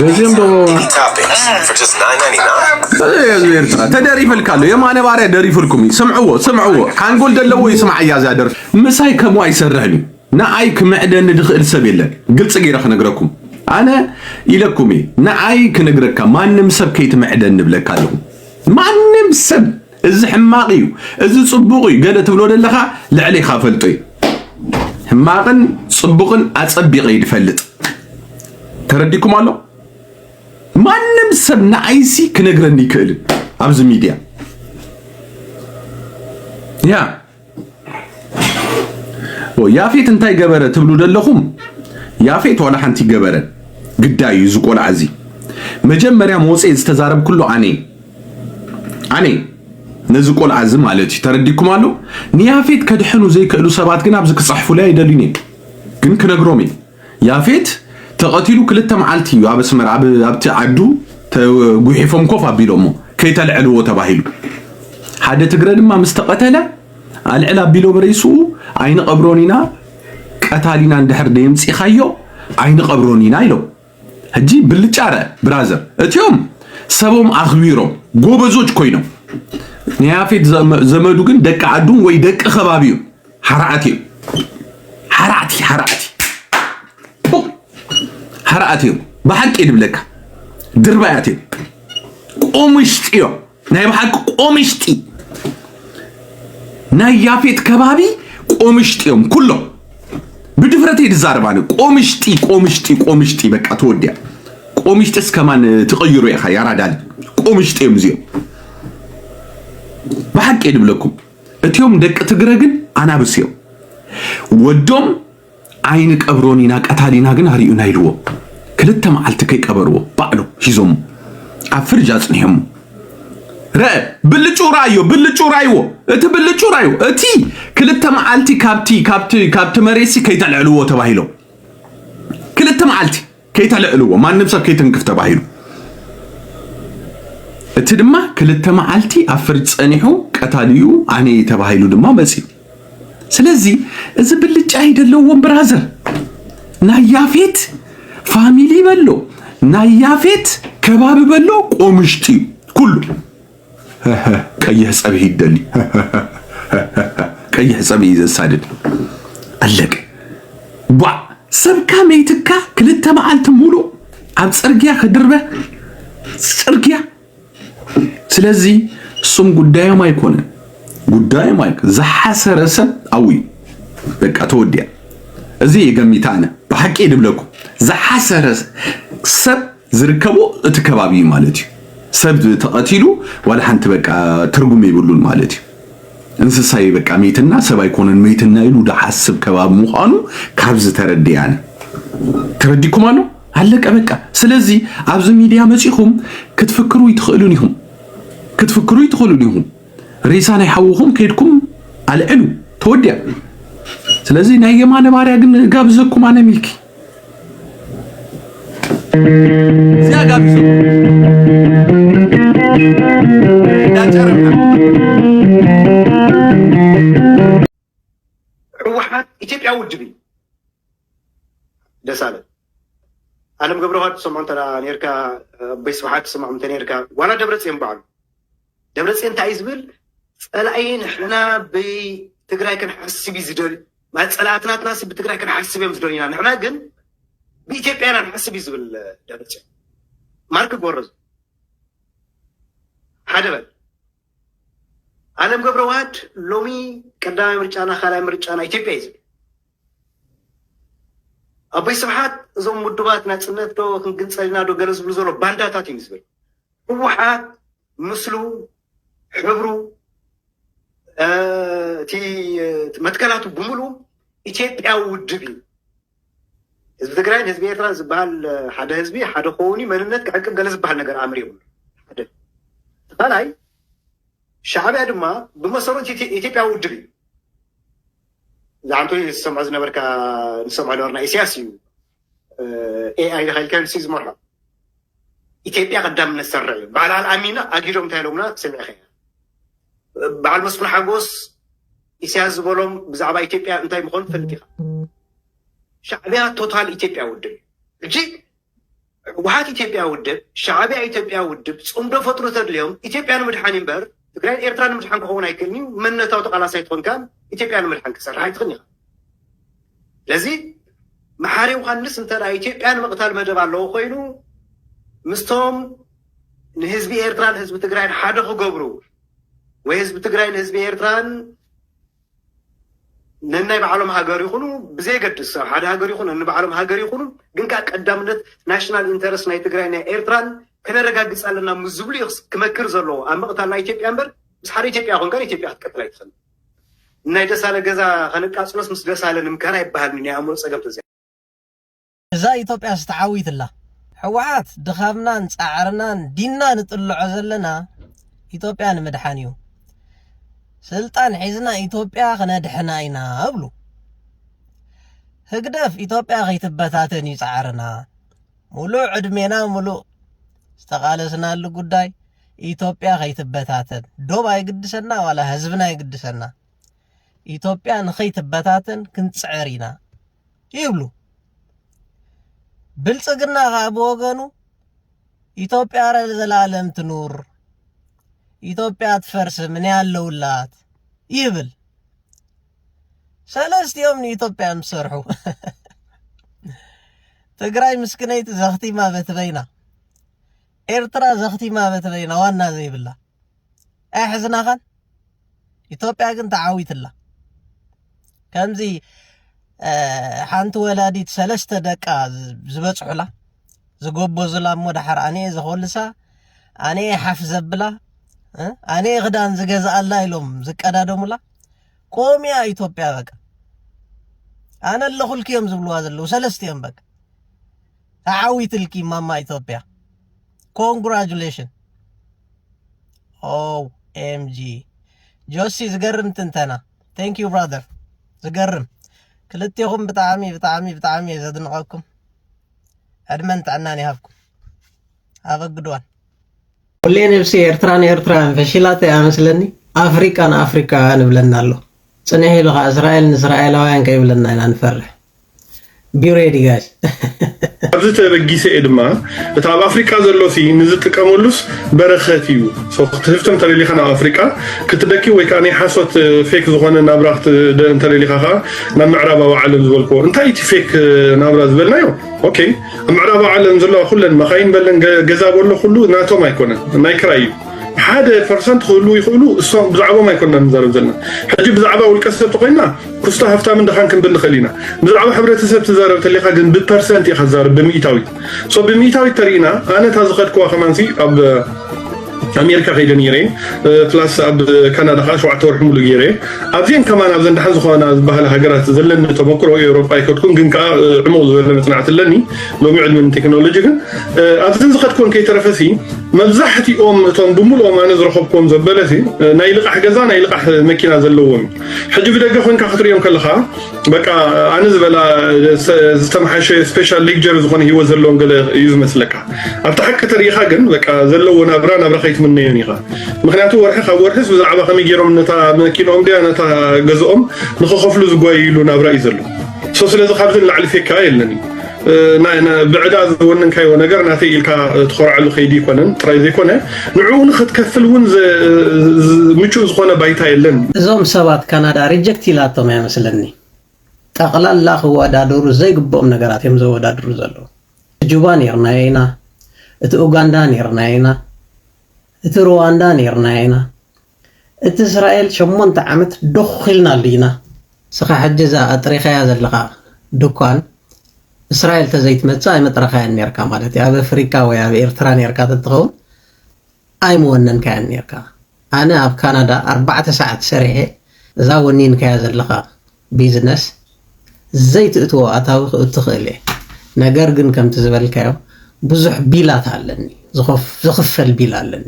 በዚም ኤርትራ ተደሪፈልካ ኣሎ የማነ ባርያ ደሪፍልኩም እዩ ስምዕዎ ስምዕዎ ሓንጎል ዘለዎ እዩ ስምዓ እያ እዚኣ ደርፊ ምሳይ ከምኡ ኣይሰርሕን እዩ ንኣይ ክምዕደኒ ዝኽእል ሰብ የለን ግልፂ ገይረ ክነግረኩም ኣነ ኢለኩም እየ ንኣይ ክነግረካ ማንም ሰብ ከይትምዕደኒ ብለካ ኣለኹ ማንም ሰብ እዚ ሕማቅ እዩ እዚ ጽቡቅ እዩ ገለ ትብሎ ዘለኻ ልዕሌኻ ፈልጦ እዩ ሕማቅን ጽቡቅን ኣጸቢቀ እዩ ድፈልጥ ተረዲኩም ኣሎ ማንም ሰብ ንዓይሲ ክነግረኒ ይክእልን ኣብዚ ሚድያ ያ ያፌት እንታይ ገበረ ትብሉ ደለኹም? ያፌት ዋላ ሓንቲ ገበረ ግዳይ እዩ እዚ ቆልዓ እዚ። መጀመርያ መወፀ ዝተዛረብኩሉ ኣነ ኣነ ነዚ ቆልዓ እዚ ማለት እዩ ተረዲኩም ኣሎ። ንያፌት ከድሕኑ ዘይክእሉ ሰባት ግን ኣብዚ ክፅሕፉለይ ኣይደልዩን እዮም ግን ክነግሮም እዩ ያፌት ተቀቲሉ ክልተ መዓልቲ እዩ ኣብ ኣስመራ ኣብ ኣብቲ ዓዱ ተጒሒፎም ኮፍ ኣቢሎሞ ከይተልዕልዎ ተባሂሉ ሓደ ትግረ ድማ ምስ ተቀተለ ኣልዕል ኣቢሎ ብሬስኡ ኣይንቀብሮን ኢና ቀታሊና እንድሕር ደየምጺኻዮ ኣይንቀብሮን ኢና ኢሎም ሕጂ ብልጫረ ብራዘር እትዮም ሰቦም ኣኽቢሮም ጎበዞች ኮይኖም ንያፌት ዘመዱ ግን ደቂ ዓዱን ወይ ደቂ ከባቢኡን ሓራዓት እዩ ሓራዕቲ ሓራዕቲ ሓራዓት እዮም ብሓቂ ድብለካ ድርባያት እዮም ቆምሽጢ እዮም ናይ ብሓቂ ቆምሽጢ ናይ ያፌት ከባቢ ቆምሽጢ እዮም ኩሎም ብድፍረት ድዛረብ ኣነ ቆምሽጢ ቆምሽጢ ቆምሽጢ በቃ ተወዲያ ቆምሽጢ እስከማን ትቐይሩ ኢኻ ያራዳል ቆምሽጢ እዮም እዚኦም ብሓቂ ድብለኩም እትዮም ደቂ ትግረ ግን ኣናብስ እዮም ወዶም ዓይኒ ቀብሮን ኢና ቀታሊና ግን ኣርዩና ኢልዎ ክልተ መዓልቲ ከይቀበርዎ ባዕሎም ሂዞሞ ኣብ ፍርጅ ኣጽኒሖሞ ረእ ብልጩ ራዮ ብልጩ ራይዎ እቲ ብልጩ ራዩ እቲ ክልተ መዓልቲ ካብቲ ካብቲ ካብቲ መሬሲ ከይተልዕልዎ ተባሂሎም ክልተ መዓልቲ ከይተልዕልዎ ማንም ሰብ ከይትንክፍ ተባሂሉ እቲ ድማ ክልተ መዓልቲ ኣብ ፍርጅ ጸኒሑ ቀታሊኡ ኣነ እየ ተባሂሉ ድማ መጽዩ ስለዚ እዚ ብልጫ ይደለዎም ብራዘር ናይ ያፌት ፋሚሊ በሎ ናይ ያፌት ከባቢ በሎ ቆምሽጢ እዩ ኩሉ ቀይሕ ፀብሒ ይደሊ ቀይሕ ፀብሒ እዩ ዘሳድድ ኣለቀ ጓዕ ሰብካ መይትካ ክልተ መዓልቲ ሙሉእ ኣብ ፅርግያ ክድርበ ፅርግያ ስለዚ እሱም ጉዳዮም ኣይኮነ ጉዳዮም ኣይ ዝሓሰረ ሰብ ኣውዩ በቃ ተወዲያ እዚ የገሚታ ኣነ ብሓቂ ድብለኩ ዝሓሰረ ሰብ ዝርከቦ እቲ ከባቢ እዩ ማለት እዩ። ሰብ ተቐቲሉ ዋላ ሓንቲ በቃ ትርጉም የብሉን ማለት እዩ። እንስሳይ በቃ ሜትና ሰብ ኣይኮነን ሜትና ኢሉ ድሓስብ ከባቢ ምዃኑ ካብ ዝተረድያነ ተረዲኩም ኣሎ ኣለቀ በቃ። ስለዚ ኣብዚ ሚድያ መጺኹም ክትፍክሩ ይትኽእሉን ኢኹም ክትፍክሩ ይትኽእሉን ኢኹም። ሬሳ ናይ ሓውኹም ከድኩም ኣልዕሉ ተወዲያ። ስለዚ ናይ የማነ ባርያ ግን ጋብዘኩም ኣነ ሚልኪ እዚኣ ጋቢዞ እንዳጨረብና ህወሓት ኢትዮጵያ ውድብ እዩ ደሳለ ኣለም ገብረዋህድ ትሰምዖ እንተ ኔርካ ኣቦይ ስብሓት ትሰምዖም እንተ ኔርካ ዋላ ደብረፅዮን በዓሉ ደብረፅዮን እንታይ እዩ ዝብል ፀላኢ ንሕና ብትግራይ ክንሓስብ እዩ ዝደልዩ ማለት ፀላእቲ ናትና ሲ ብትግራይ ክንሓስብ እዮም ዝደልዩና ንሕና ግን ብኢትዮጵያ ኢና ንሓስብ እዩ ዝብል ደብረፅዮን ማርክ ጎረዙ ሓደ በል ኣለም ገብረ ዋህድ ሎሚ ቀዳማይ ምርጫና ካልኣይ ምርጫና ኢትዮጵያ እዩ ዝብል ኣቦይ ስብሓት እዞም ውድባት ናፅነት ዶ ክንግንፀልና ዶ ገለ ዝብሉ ዘሎ ባንዳታት እዩ ዝብል ህወሓት ምስሉ ሕብሩ እቲ መትከላቱ ብምሉ ኢትዮጵያዊ ውድብ እዩ። ህዝቢ ትግራይን ህዝቢ ኤርትራን ዝበሃል ሓደ ህዝቢ ሓደ ከውን መንነት ክዕቅብ ገለ ዝበሃል ነገር ኣምር የብሉ ሓደ ካልኣይ ሻዕቢያ ድማ ብመሰረቱ ኢትዮጵያዊ ውድብ እዩ። ዝዓንቶ ዝሰምዖ ዝነበርካ ንሰምዖ ነበርና ኢሳያስ እዩ ኤኣይ ኢኻ ኢልካዮም ሲ ዝመርሖ ኢትዮጵያ ቀዳምነት ዝሰርዕ እዩ በዓል ኣልኣሚና ኣጊዶም እንታይ ኢሎምና ሰሚዕኸ በዓል መስፍን ሓጎስ ኢሳያስ ዝበሎም ብዛዕባ ኢትዮጵያ እንታይ ምኾኑ ትፈልጥ ኢኻ ሻዕቢያ ቶታል ኢትዮጵያ ውድብ ሕጂ ህወሓት ኢትዮጵያ ውድብ ሻዕቢያ ኢትዮጵያ ውድብ ፅምዶ ፈጥሩ ተድልዮም ኢትዮጵያ ንምድሓን እምበር ትግራይ ንኤርትራ ንምድሓን ክኸውን ኣይክእልን እዩ። መንነታዊ ተቓላሳይ ትኾን ከ ኢትዮጵያ ንምድሓን ክሰርሕ ኣይትኽእልን ኢኻ። ስለዚ መሓሪ ዮሃንስ እንተ ኢትዮጵያ ንምቕታል መደብ ኣለዎ ኮይኑ ምስቶም ንህዝቢ ኤርትራን ህዝቢ ትግራይን ሓደ ክገብሩ ወይ ህዝቢ ትግራይ ንህዝቢ ኤርትራን ነናይ ባዕሎም ሃገር ይኹኑ ብዘየገድስ ኣብ ሓደ ሃገር ይኹኑ ንባዕሎም ሃገር ይኹኑ ግን ከዓ ቀዳምነት ናሽናል ኢንተረስት ናይ ትግራይ ናይ ኤርትራን ከነረጋግፅ ኣለና ምስ ዝብሉ እዩ ክመክር ዘለዎ ኣብ ምቕታል ናይ ኢትዮጵያ እምበር ምስ ሓደ ኢትዮጵያ ኮንካ ኢትዮጵያ ክትቀጥል ኣይትኽእል ናይ ደሳለ ገዛ ከነቃፅሎስ ምስ ደሳለ ንምካር ኣይበሃልን ናይ ኣእምሮ ፀገም ተዘ እዛ ኢትዮጵያስ ተዓዊትላ። ሕወሓት ድኻምናን ፃዕርናን ዲና ንጥልዖ ዘለና ኢትዮጵያ ንምድሓን እዩ። ስልጣን ሒዝና ኢትዮጵያ ክነድሕና ኢና እብሉ። ህግደፍ ኢትዮጵያ ከይትበታተን እዩ ፃዕርና። ሙሉእ ዕድሜና ሙሉእ ዝተቓለስናሉ ጉዳይ ኢትዮጵያ ከይትበታተን ዶብ ኣይግድሰና ዋላ ህዝብና ይግድሰና። ኢትዮጵያ ንኸይትበታተን ክንፅዕር ኢና ይብሉ። ብልፅግና ከዓ ብወገኑ ኢትዮጵያ ዘለዓለም ትኑር፣ ኢትዮጵያ ትፈርስም እኔ ያለውላት ይብል። ሰለስቲኦም ንኢትዮጵያ ምሰርሑ ትግራይ ምስክነይቲ ዘኽቲማ በትበይና ኤርትራ ዘኽቲማ በትበይና ዋና ዘይብላ ኣይሕዝናኻን ኢትዮጵያ ግን ተዓዊትላ ከምዚ ሓንቲ ወላዲት ሰለስተ ደቃ ዝበፅሑላ ዝጎበዙላ እሞ ድሓር ኣነየ ዘኾልሳ ኣነየ ሓፍ ዘብላ ኣነየ ክዳን ዝገዝኣላ ኢሎም ዝቀዳደሙላ ቆሚያ ኢትዮጵያ በቃ ኣነ ኣለኹልኪ እዮም ዝብልዋ ዘለዉ ሰለስቲኦም በቃ ተዓዊትልኪ ማማ ኢትዮጵያ ኮንግራጁሌሽን ኦኤምጂ ጆሲ ዝገርም ትንተና ቴንክ ዩ ብራደር ዝገርም ክልቴኹም ብጣዕሚ ብጣዕሚ ብጣዕሚ እየ ዘድንቐኩም ዕድመን ጥዕናን ይሃብኩም ኣበግድዋን ሁሌ ነብሲ ኤርትራ ንኤርትራውያን ፈሽላት እያ መስለኒ ኣፍሪቃ ንኣፍሪካውያን ይብለና ኣሎ ፅንሕ ኢሉ ከዓ እስራኤል ንእስራኤላውያን ከይብለና ኢና ንፈርሕ ቢ ሬዲ ጋይስ ኣብዚ ተበጊሰ እየ ድማ እቲ ኣብ ኣፍሪቃ ዘሎ ሲ ንዝጥቀመሉስ በረኸት እዩ ሶ ክትህፍቲ እንተደሊኻ ናብ ኣፍሪቃ ክትደኪ ወይ ከዓ ናይ ሓሶት ፌክ ዝኾነ ናብራ ክትደ እንተደሊኻ ከዓ ናብ ምዕራባዊ ዓለም ዝበልክዎ እንታይ እዩ እቲ ፌክ ናብራ ዝበልናዮ ኦኬ ኣብ ምዕራባዊ ዓለም ዘለዋ ኩለን መኻይን በለን ገ- ገዛ በሎ ኩሉ ናቶም ኣይኮነን ናይ ክራይ እዩ ሓደ ፐርሰንት ክህልው ይኽእሉ እሶም ብዛዕባኦም ኣይኮንና ንዛረብ ዘለና ሕጂ ብዛዕባ ውልቀ ሰብ ተኮይና ኩስቶ ሃፍታምን ድኻን ክንብል ንኽእል ኢና ብዛዕባ ሕብረተሰብ ትዛረብ ተለኻ ግን ብፐርሰንት ኢኻ ትዛረብ ብምኢታዊት ሶ ብምኢታዊት ተሪኢና ኣነ እታ ዝኸድክዋ ከማንሲ ኣብ ኣሜሪካ ከይደ ነይረ ፕላስ ኣብ ካናዳ ከዓ ሸውዓተ ወርሒ ሙሉ ገይረ ኣብዚአን ከማን ኣብዘን ደሓን ዝኾና ዝበሃላ ሃገራት ዘለኒ ተመክሮ ኤውሮጳ ኣይከድኩን ግን ከዓ ዕሙቕ ዝበለ መፅናዕቲ ኣለኒ ሎሚ ዕድሚን ቴክኖሎጂ ግን ኣብዘን ዝኸድክወን ከይተረፈሲ መብዛሕትኦም እቶም ብምሉኦም ኣነ ዝረኸብክዎም ዘበለሲ ናይ ልቓሕ ገዛ ናይ ልቓሕ መኪና ዘለዎም ሕጂ ብደገ ኮንካ ክትርእዮም ከለኻ በቃ ኣነ ዝበላ ዝተመሓሸ ስፔሻል ሌክጀር ዝኾነ ሂወት ዘለዎም ገለ እዩ ዝመስለካ ኣብቲ ሓቂ ተሪኢኻ ግን በቃ ዘለዎ ናብራ ናብራ ከይትምነዮን ኢኻ ምክንያቱ ወርሒ ካብ ወርሒስ ብዛዕባ ከመይ ገይሮም ነታ መኪኖኦም ድያ ነታ ገዝኦም ንክኸፍሉ ዝጓይሉ ናብራ እዩ ዘሎ ሶ ስለዚ ካብዚ ንላዕሊ ፌካ የለን እዩ ብዕዳ ዝወንን ካዮ ነገር ናተይ ኢልካ ትኾርዓሉ ከይዲ ኣይኮነን ጥራይ ዘይኮነ ንዕኡ ንክትከፍል እውን ምቹእ ዝኾነ ባይታ የለን። እዞም ሰባት ካናዳ ሪጀክት ኢላቶም እያ መስለኒ ጠቅላላ ክወዳደሩ ዘይግብኦም ነገራት እዮም ዘወዳድሩ ዘለዉ እቲ ጁባ ኔርናዮ ኢና እቲ ኡጋንዳ ኔርናዮ ኢና። እቲ ሩዋንዳ ኔርና ኢና እቲ እስራኤል ሸሞንተ ዓመት ዶኽ ኢልናሉ ኢና። እስኻ ሕጂ እዛ ኣጥሪኻያ ዘለኻ ድኳን እስራኤል ተዘይትመጽእ ኣይመጥረኻያን ኔርካ ማለት እዩ። ኣብ ኣፍሪቃ ወይ ኣብ ኤርትራ ኔርካ ተትኸውን ኣይምወነንካያን ኔርካ። ኣነ ኣብ ካናዳ ኣርባዕተ ሰዓት ሰሪሐ እዛ ወኒንካያ ዘለኻ ቢዝነስ ዘይትእትዎ ኣታዊ ክእቱ ክእል እየ ነገር ግን ከምቲ ዝበልካዮ ብዙሕ ቢላት ኣለኒ ዝኽፈል ቢል ኣለኒ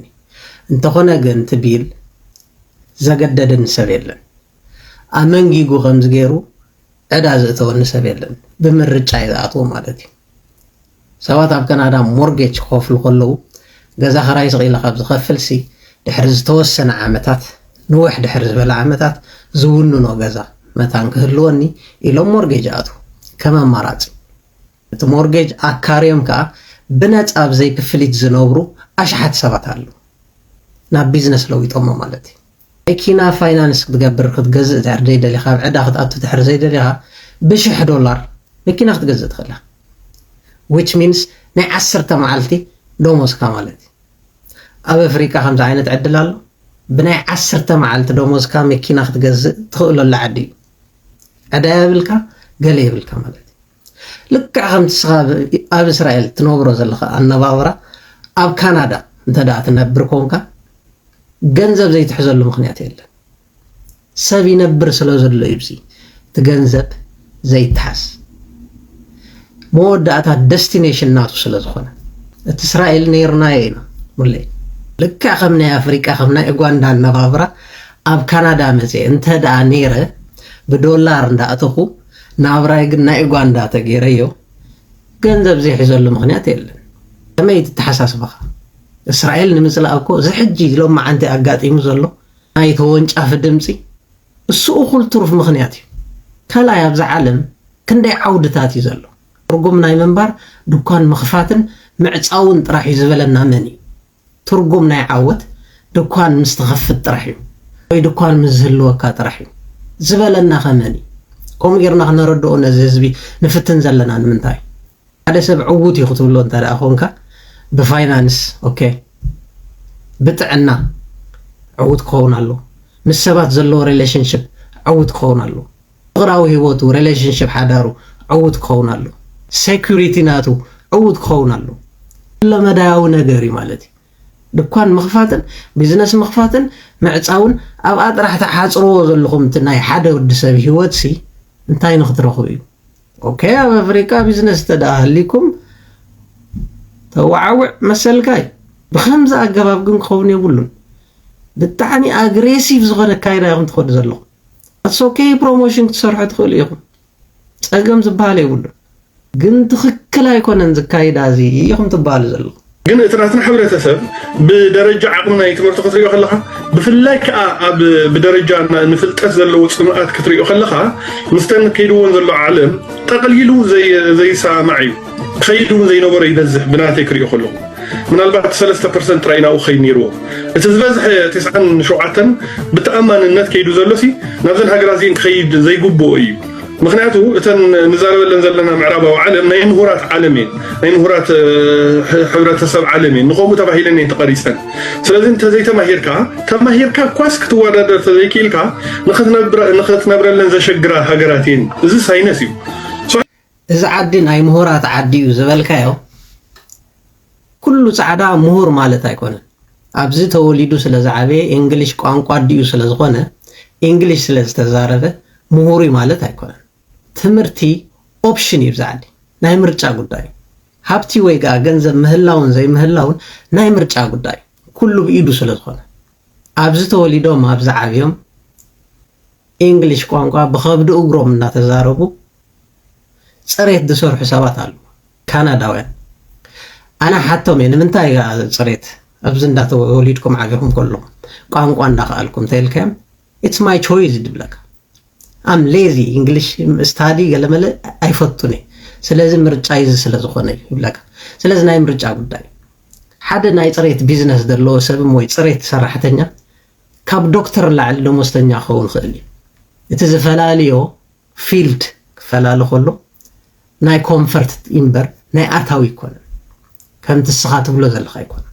እንተኾነ ግን እቲ ቢል ዘገደደኒ ሰብ የለን ኣመንጊጉ ከምዚ ገይሩ ዕዳ ዝእተወኒ ሰብ የለን ብምርጫይ ዝኣትዎ ማለት እዩ። ሰባት ኣብ ከናዳ ሞርጌጅ ክኸፍሉ ከለዉ፣ ገዛ ክራይ ስቕ ኢለ ካብ ዝኸፍልሲ፣ ድሕሪ ዝተወሰነ ዓመታት፣ ንውሕ ድሕሪ ዝበለ ዓመታት፣ ዝውንኖ ገዛ መታን ክህልወኒ ኢሎም ሞርጌጅ ይኣትዉ፣ ከም ኣማራጺ። እቲ ሞርጌጅ ኣካርዮም ከኣ ብነጻ ኣብ ዘይክፍሊት ዝነብሩ ኣሽሓት ሰባት ኣለዉ። ናብ ቢዝነስ ለዊጦሞ ማለት'ዩ። መኪና ፋይናንስ ክትገብር ክትገዝእ ድሕሪ ዘይደሊኻ ኣብ ዕዳ ክትኣቱ ድሕሪ ዘይደሊኻ ብሽሕ ዶላር መኪና ክትገዝእ ትኽእል ኢኻ which means ናይ ዓሰርተ መዓልቲ ደሞዝካ ማለት እዩ ኣብ ኣፍሪቃ ከምዚ ዓይነት ዕድል ኣሎ ብናይ ዓሰርተ መዓልቲ ደሞዝካ መኪና ክትገዝእ ትኽእለሉ ዓዲ እዩ ዕዳ የብልካ ገለ የብልካ ማለት እዩ ልክዕ ከምቲ ንስኻ ኣብ እስራኤል ትነብሮ ዘለኻ ኣነባብራ ኣብ ካናዳ እንተደኣ ትነብር ኮንካ ገንዘብ ዘይትሕዘሉ ምኽንያት የለን። ሰብ ይነብር ስለ ዘሎ እዩ ብዚ እቲ ገንዘብ ዘይተሓዝ መወዳእታ ደስቲኔሽን ናቱ ስለ ዝኾነ እቲ እስራኤል ነይርናዮ ኢና ሙለይ ልክዕ ከም ናይ ኣፍሪቃ ከም ናይ ኡጋንዳ ኣነባብራ ኣብ ካናዳ መፅየ እንተ ደኣ ነይረ ብዶላር እንዳእተኹ ናብራይ ግን ናይ ኡጋንዳ ተገይረዮ ገንዘብ ዘይሕዘሉ ምኽንያት የለን። ከመይ ትተሓሳስባኻ እስራኤል ንምጽላእ እኮ እዚ ሕጂ ሎማዓንቲ ኣጋጢሙ ዘሎ ናይ ተወንጫፊ ድምጺ እሱ እኹል ትሩፍ ምኽንያት እዩ። ካልኣይ ኣብዚ ዓለም ክንደይ ዓውድታት እዩ ዘሎ ትርጉም ናይ ምንባር ድኳን ምኽፋትን ምዕጻውን ጥራሕ እዩ ዝበለና መን እዩ? ትርጉም ናይ ዓወት ድኳን ምስ ትኸፍት ጥራሕ እዩ ወይ ድኳን ምስ ዝህልወካ ጥራሕ እዩ ዝበለናኸ መን እዩ? ከምኡ ጌርና ክነረድኦ ነዚ ህዝቢ ንፍትን ዘለና ንምንታይ? ሓደ ሰብ ዕዉት እዩ ክትብሎ እንተ ደኣ ኮንካ ብፋይናንስ ኦኬ ብጥዕና ዕዉት ክኸውን ኣለዎ ምስ ሰባት ዘለዎ ሪሌሽንሽፕ ዕዉት ክኸውን ኣለዎ። ፍቅራዊ ሂወቱ ረለሽንሽፕ ሓዳሩ ዕዉት ክኸውን ኣለዎ ሰኩሪቲ ናቱ ዕዉት ክኸውን ኣለዎ ኩለመዳያዊ ነገር እዩ ማለት እዩ ድኳን ምኽፋትን ቢዝነስ ምኽፋትን ምዕጻውን ኣብኣ ጥራሕ ትሓጽርዎ ዘለኹም እቲ ናይ ሓደ ወዲ ሰብ ሂወት ሲ እንታይ ንኽትረኽቡ እዩ ኦኬ ኣብ ኣፍሪቃ ቢዝነስ እንተደኣ ሃሊኩም ተወዓውዕ መሰልካ እዩ ብከምዚ ኣገባብ ግን ክኸውን የብሉን ብጣዕሚ ኣግሬሲቭ ዝኾነ ኣካይዳ ኢኹም ትኸዱ ዘለኹም ኣትስ ኦኬይ ፕሮሞሽን ክትሰርሑ ትኽእሉ ኢኹም ጸገም ዝበሃል የብሉን ግን ትኽክል ኣይኮነን ዝካይዳ እዚ ኢኹም ትበሃሉ ዘለኹም ግን እቲ ናትና ሕብረተሰብ ብደረጃ ዓቕሚ ናይ ትምህርቲ ክትሪኦ ከለኻ ብፍላይ ከዓ ኣብ ብደረጃ ንፍልጠት ዘለዎ ፅምኣት ክትሪኦ ከለኻ ምስተን ከይድዎን ዘሎ ዓለም ጠቕሊሉ ዘይሰማዕ እዩ ኸይዲ እውን ዘይነበሮ ይበዝሕ ብናተይ ክሪኦ ከለኹ ምናልባት ሰለስተ ፐርሰንት ጥራይ ናብኡ ክኸይድ ነይርዎ እቲ ዝበዝሐ ቴስዓን ሸውዓተን ብተኣማንነት ከይዱ ዘሎሲ ናብዘን ሃገራት እዚን ክኸይድ ዘይግብኦ እዩ ምክንያቱ እተን ንዛረበለን ዘለና ምዕራባዊ ዓለም ናይ ምሁራት ዓለም እየን ናይ ምሁራት ሕብረተሰብ ዓለም እየን ንከምኡ ተባሂለን እየን ተቐሪፀን ስለዚ እንተዘይተማሂርካ ተማሂርካ እኳስ ክትወዳደር ተዘይክኢልካ ንክትነብረለን ዘሸግራ ሃገራት እየን እዚ ሳይነስ እዩ እዚ ዓዲ ናይ ምሁራት ዓዲ እዩ ዝበልካዮ ኩሉ ጻዕዳ ምሁር ማለት ኣይኮነን። ኣብዚ ተወሊዱ ስለ ዝዓበየ ኢንግሊሽ ቋንቋ ኣዲኡ ስለ ዝኾነ ኢንግሊሽ ስለ ዝተዛረበ ምሁር እዩ ማለት ኣይኮነን። ትምህርቲ ኦፕሽን እዩ ኣብዚ ዓዲ ናይ ምርጫ ጉዳይ እዩ። ሃብቲ ወይ ከኣ ገንዘብ ምህላውን ዘይምህላውን ናይ ምርጫ ጉዳይ እዩ። ኩሉ ብኢዱ ስለ ዝኾነ ኣብዚ ተወሊዶም ኣብዚ ዓብዮም ኢንግሊሽ ቋንቋ ብኸብዲ እግሮም እናተዛረቡ ጽሬት ዝሰርሑ ሰባት ኣለው ካናዳውያን ኣነ ሓቶም እየ ንምንታይ እያ ጽሬት ኣብዚ እንዳተወሊድኩም ዓቢኹም ከለኹም ቋንቋ እንዳኸኣልኩም እንተይልካዮም ኢትስ ማይ ቾይዝ ድብለካ ኣም ሌዚ እንግሊሽ ስታዲ ገለመለ ኣይፈቱን እየ ስለዚ ምርጫ ይዚ ስለ ዝኾነ እዩ ይብለካ ስለዚ ናይ ምርጫ ጉዳይ ሓደ ናይ ፅሬት ቢዝነስ ዘለዎ ሰብ ወይ ፅሬት ሰራሕተኛ ካብ ዶክተር ላዕሊ ደሞዝተኛ ክኸውን ይኽእል እዩ እቲ ዝፈላልዮ ፊልድ ክፈላለ ከሎ ናይ ኮንፈርት ኢምበር ናይ ኣታዊ ኣይኮነን ከምቲ እስኻ ትብሎ ዘለኻ ኣይኮነን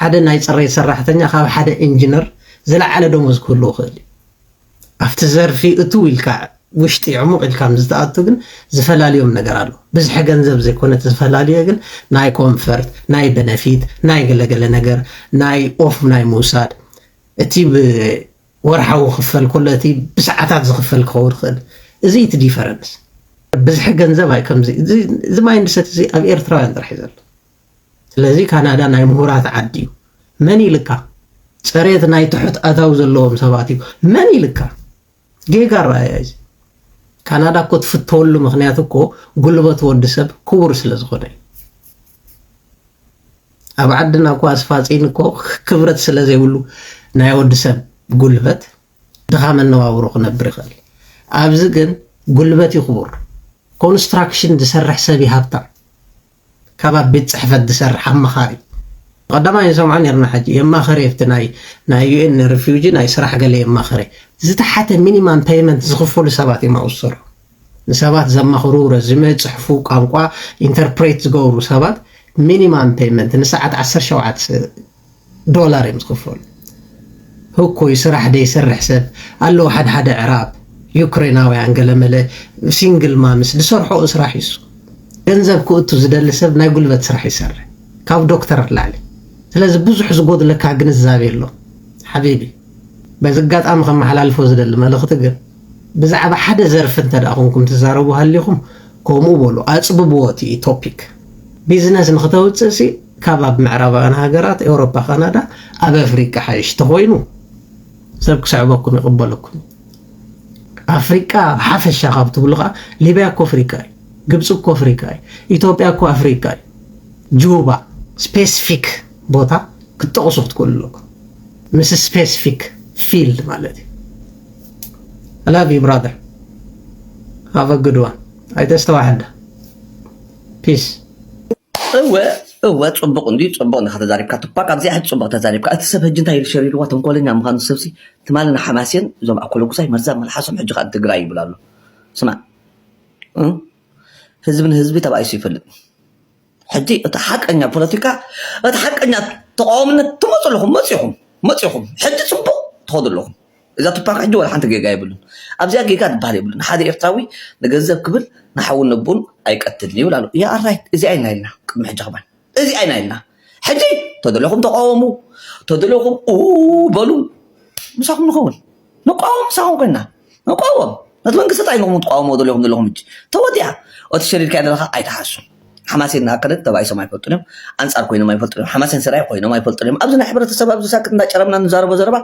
ሓደ ናይ ጽሬት ሰራሕተኛ ካብ ሓደ ኢንጂነር ዝለዓለ ደሞዝ ክህልዎ ክእል እዩ ኣብቲ ዘርፊ እትው ኢልካ ውሽጢ ዕሙቕ ኢልካ ምስ ትኣቱ ግን ዝፈላልዮም ነገር ኣሎ ብዝሒ ገንዘብ ዘይኮነ እቲ ዝፈላልዮ ግን ናይ ኮንፈርት ናይ በነፊት ናይ ገለገለ ነገር ናይ ኦፍ ናይ ምውሳድ እቲ ወርሓዊ ክፈል ኮሎ እቲ ብሰዓታት ዝክፈል ክከውን ይክእል እዚ እቲ ዲፈረንስ ብዝሒ ገንዘብ ኣይ ከምዚ እዚ ማይንድ ሰት እዚ ኣብ ኤርትራውያን ጥራሕ እዩ ዘሎ ስለዚ ካናዳ ናይ ምሁራት ዓዲ እዩ መን ኢልካ ፀሬት ናይ ትሑት ኣታዊ ዘለዎም ሰባት እዩ መን ኢልካ ጌጋ ራእያ እዚ ካናዳ እኮ ትፍተወሉ ምክንያት እኮ ጉልበት ወዲ ሰብ ክቡር ስለ ዝኾነ እዩ ኣብ ዓድና እኳ ኣስፋጺን እኮ ክብረት ስለ ዘይብሉ ናይ ወዲ ሰብ ጉልበት ድኻ መነባብሮ ክነብር ይኽእል። ኣብዚ ግን ጉልበት እዩ ክቡር። ኮንስትራክሽን ዝሰርሕ ሰብ እዩ ሃብታም። ካብ ኣብ ቤት ጽሕፈት ዝሰርሕ ኣማኻሪ ቀዳማይ ንሰምዖ ነርና ሕጂ የማኸረ የፍቲ ናይ ናይ ዩኤን ሪፊውጂ ናይ ስራሕ ገለ የማኸረ ዝተሓተ ሚኒማም ፔይመንት ዝኽፈሉ ሰባት እዮም ኣውሰሩ ንሰባት ዘማኽሩ፣ ረዝመ ዝጽሕፉ፣ ቋንቋ ኢንተርፕሬት ዝገብሩ ሰባት ሚኒማም ፔይመንት ንሰዓት ዓሰርተ ሸውዓተ ዶላር እዮም ዝኽፈሉ። ህኩይ ስራሕ ደይሰርሕ ሰብ ኣለዉ ሓድሓደ ኣዕራብ ዩክሬናውያን ገለመለ ሲንግል ማምስ ዝሰርሕኦ ስራሕ እዩ እሱ። ገንዘብ ክእቱ ዝደሊ ሰብ ናይ ጉልበት ስራሕ ይሰርሕ ካብ ዶክተር ንላዕሊ። ስለዚ ብዙሕ ዝጎድለካ ግንዛቤ ኣሎ ሓቢቢ። በዚ ኣጋጣሚ ከመሓላልፎ ዝደሊ መልእኽቲ ግን ብዛዕባ ሓደ ዘርፊ እንተ ኮንኩም ትዛረቡ ሃሊኹም ኮምኡ በሉ ኣጽብብዎ እቲ ቶፒክ። ቢዝነስ ንኽተውጽእ ሲ ካብ ኣብ ምዕራባውያን ሃገራት ኤውሮፓ ካናዳ ኣብ ኣፍሪቃ ሓይሽ ተኾይኑ ሰብ ክስዕበኩም ይቕበለኩም ኣፍሪቃ ሓፈሻ ካብ ትብሉ ኸዓ ሊብያ እኮ ኣፍሪቃ እዩ ግብፂ እኮ ኣፍሪቃ እዩ ኢትዮጵያ እኮ ኣፍሪቃ እዩ ጁባ ስፔሲፊክ ቦታ ክትጠቕሱ ክትክእሉ ኣለኩም ምስ ስፔሲፊክ ፊልድ ማለት እዩ I love you brother have a good one ኣይተስተዋሕዳ peace እወ እወ ፅቡቅ እንድዩ ፅቡቅ እንዳ ከተዛሪብካ ትኳዕ ኣብዚኣ ሕጂ ፅቡቅ ተዛሪብካ እቲ ሰብ ሕጂ እንታይ ሸሪርዋ ተንኮለኛ ምዃኑ ሰብሲ ትማሊ ንሓማሴን እዞም ኣኮለጉዛይ መርዛ መልሓሶም ሕጂ ከዓ ትግራይ ይብል ኣሎ ስማዕ ህዝቢ ንህዝቢ ተባኢሱ ይፈልጥ ሕጂ እቲ ሓቀኛ ፖለቲካ እቲ ሓቀኛ ተቓዋምነት ትመፁ ኣለኹም መፂኹም መፂኹም ሕጂ ፅቡቕ ትኸዱ ኣለኹም እዛ ቱፓክ ሕጂ ዋላ ሓንቲ ጌጋ የብሉን ኣብዚኣ ጌጋ ዝበሃል የብሉን ሓደ ኤርትራዊ ንገንዘብ ክብል ንሓውን ነቦን ኣይቀትልን ይብል ኣሎ ያ ኣራይት እዚኣ ኢና ኢልና ቅድሚ ሕጂ ከማን እዚኣ ኢና ኢልና ሕጂ ተደለኹም ተቓወሙ ተደለኹም ኡ በሉ ምሳኹም ንኸውን ንቋወም ምሳኹም ኮይና ንቋወም ነቲ መንግስቲ ጥራይ ኢኹም ትቋወምዎ ዘለኹም ዘለኹም ሕጂ ተወዲኣ እቲ ሸሪርካዮ ዘለኻ ኣይትሓሱ ሓማሴን ንኣከለ ተባኢሶም ኣይፈልጡን እዮም ኣንጻር ኮይኖም ኣይፈልጡን እዮም ሓማሴን ሰራይ ኮይኖም ኣይፈልጡን እዮም ኣብዚ ናይ ሕብረተሰብ ኣብዚ ሳክት እንዳጨረምና ንዛረቦ ዘረባ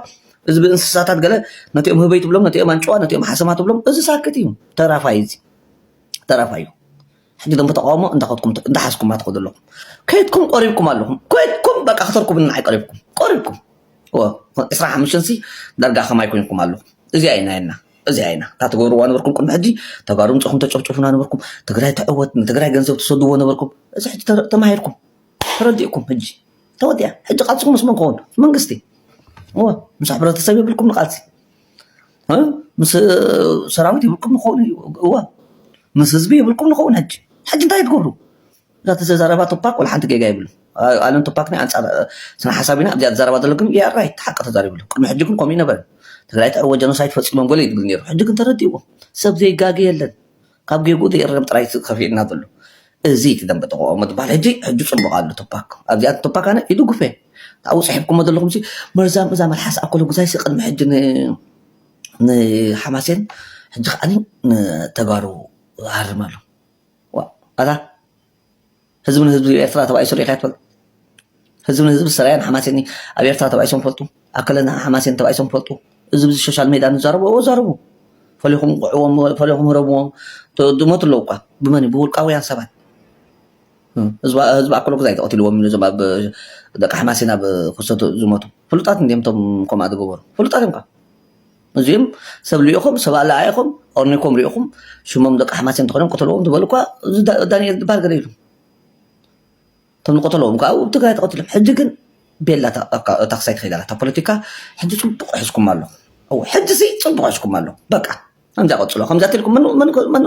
እዚ ብእንስሳታት ገለ ነቲኦም ህበይ ትብሎም ነቲኦም ኣንጭዋ ነቲኦም ሓሰማ ትብሎም እዚ ሳክት እዩ ተራፋይ እዚ ተራፋይ እዩ ሕጂ እቶም ብተቃውሞ እንዳኸድኩም እንዳሓዝኩማ ትኸዱ ኣለኹም ከይድኩም ቆሪብኩም ኣለኹም ኮይድኩም በቃ ክተርኩብኒ ንዓይ ቀሪብኩም ቆሪብኩም እወ ዕስራ ሓሙሽተን ሲ ዳርጋ ከማይ ኮይንኩም ኣለኹም እዚኣ ኢና የና እዚኣ ኢና እታ ትገብርዋ ነበርኩም ቅድሚ ሕጂ ተጋሩ ምፅኹም ተጨፍጭፉና ነበርኩም ትግራይ ትዕወት ንትግራይ ገንዘብ ትሰድዎ ነበርኩም እዚ ሕጂ ተማሂርኩም ተረዲእኩም ሕጂ ተወዲኣ ሕጂ ቃልስኩም ምስ መን ክኸውን መንግስቲ እወ ምስ ሕብረተሰብ የብልኩም ንቃልሲ ምስ ሰራዊት የብልኩም ንከውን እዩ እወ ምስ ህዝቢ የብልኩም ንከውን ሕጂ ሕጂ እንታይ እዩ ትገብሩ እዛ ተዘራረባ ቱፓክ ወላ ሓንቲ ጌጋ የብሉን ኣለም ቱፓክ ናይ ኣንጻር ስነ ሓሳብ ኢና እዚኣ ትዛረባ ዘለኩ ግን ዩ ኣር ራይት ሓቂ ተዛሪቡ ኣሎ ቅድሚ ሕጂ ግን ከምኡ ኣይነበረን ትግራይ ትዕወት ጀኖሳይድ ፈጺሞም ገለ እዩ ዝብል ነይሩ ሕጂ ግን ተረዲእዎም ሰብ ዘይጋገ የለን ካብ ጌግኡ ዘይእረም ጥራይ እዩ ከፊእና ዘሎ እዚ እቲ ደንበ ተቃውሞ ትባሃል ሕጂ ሕጂ ጽቡቅ ኣሎ ቱፓክ ኣብዚኣ ንቱፓክ ኣነ ይድግፎ እየ ኣብኡ ጽሒፍኩሞ ዘለኹም ሲ መርዛም እዛ መልሓስ ኣኮሎጉዛይ ሲ ቅድሚ ሕጂ ን ንሓማሴን ሕጂ ከዓኒ ንተጋሩ ሃርም ኣሎ ዋእ ኣታ ህዝቢ ንህዝቢ ኤርትራ ተባኢሱ ሪኢኻ ዶ ትፈልጥ? ህዝቢ ንህዝቢ ሰራየን ሓማሴንን ኣብ ኤርትራ ተባኢሶም ይፈልጡ? ኣከለና ሓማሴን ተባኢሶም ይፈልጡ? እዚ ብዚ ሶሻል ሜድያ ንዛረቦ እወ ዛረቡ ፈሊኹም ቑዕዎም ፈሊኹም ህረምዎም ይሞቱ ኣለዉ እኳ ብመን እዩ ብውልቃውያን ሰባት ህዝቢ ህዝቢ ኣከለ ግዛይ ተቐቲልዎም ኢሉ እዞም ኣብ ደቂ ሓማሴን ኣብ ፍሰቱ ዝሞቱ ፍሉጣት እንድዮም እቶም ከምኣ ዝገበሩ ፍሉጣት እዮም እኳ እዚኦም ሰብ ልኢኹም ሰብ ኣለኣኢኹም ኦርኒንኩም ሪኢኹም ሽሞም ደቂ ኣሕማሴ እንተኾይኖም ቅተልዎም ትበሉ እኳ እዚ ዳንኤል ዝበሃል ገለ ኢሉ እቶም ንቀተልዎም ከዓ ኣብ ትግራይ ተቐቲሎም ሕጂ ግን ቤላ እታ ክሳይ ትኸይድ ኣላ እታ ፖለቲካ ሕጂ ፅቡቕ ሕዝኩም ኣሎ እወ ሕጂ ሲ ፅቡቕ ሕዝኩም ኣሎ በቃ ከምዛ ቀፅሎ ከምዛ ትልኩም መን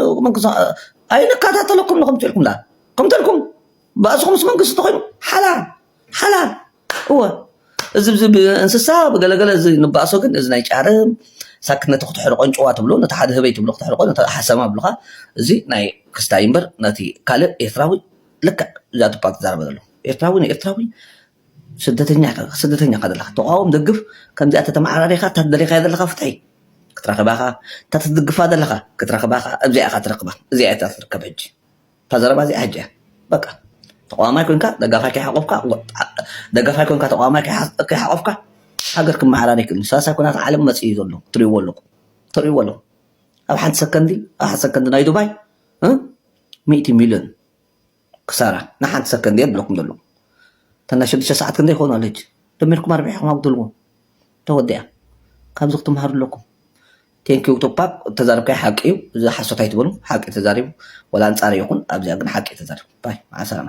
ኣይንከታተለኩም ንኹም ትልኩም ዳ ከምቲ ኢልኩም ባእስኹምስ መንግስቲ ተኾይኑ ሓላል ሓላል እወ እዚ እዚ ብእንስሳ ብገለገለ እዚ ንባእሶ ግን እዚ ናይ ጫርም ሳክ ነቲ ክትሕርቆ ኣንጭዋ ትብሎ ነቲ ሓደ ህበይ ትብሎ ክትሕርቆ ነቲ ሓሰማ ይብሉኻ እዚ ናይ ክስታይ እምበር ነቲ ካልእ ኤርትራዊ ልክዕ እዛቱ እኳ ትዛረቦ ዘሎ ኤርትራዊ ንኤርትራዊ ስደተኛ ኢኻ ስደተኛ ኢኻ ዘለኻ ተቓወም ደግፍ ከምዚኣ ተተመዓራሪኻ እታ ትደልኻያ ዘለኻ ፍትሒ ክትረኽባ ኢኻ እታ ትድግፋ ዘለኻ ክትረኽባ ኢኻ እብዚኣ ኢኻ ትረኽባ እዚኣ እያ እታ ትርከብ ሕጂ እታ ዘረባ እዚኣ ሕጂ እያ በቃ ተቃዋማይ ኮንካ ደጋፋይ ከይሓቆፍካ ደጋፋይ ኮንካ ተቃዋማይ ከይሓቆፍካ ሃገር ክመሓራር ይክእል ሳልሳይ ኩናት ዓለም መፅ እዩ ዘሎ ትሪእዎ ኣለኹም ተሪእዎ ኣሎ ኣብ ሓንቲ ሰከንዲ ኣብ ሓንቲ ሰከንዲ ናይ ዱባይ ሚእቲ ሚልዮን ክሳራ ንሓንቲ ሰከንዲ እየ ብለኩም ዘሎ እታ ናይ ሽዱሽተ ሰዓት ክንደይ ይኸውን ኣለች ደሚርኩም ኣርቢዕኹም ኣጉድልዎ ተወዲኣ ካብዚ ክትምሃሩ ኣለኩም Thank you ቱፓክ እቲ ተዛረብካዮ ሓቂ እዩ እዚ ሓሶት ኣይትበሉ ሓቂ ተዛሪቡ ወላ ኣንጻረይ ይኹን ኣብዚኣ ግን ሓቂ እዩ ተዛሪቡ ባይ ማዓሰላማ።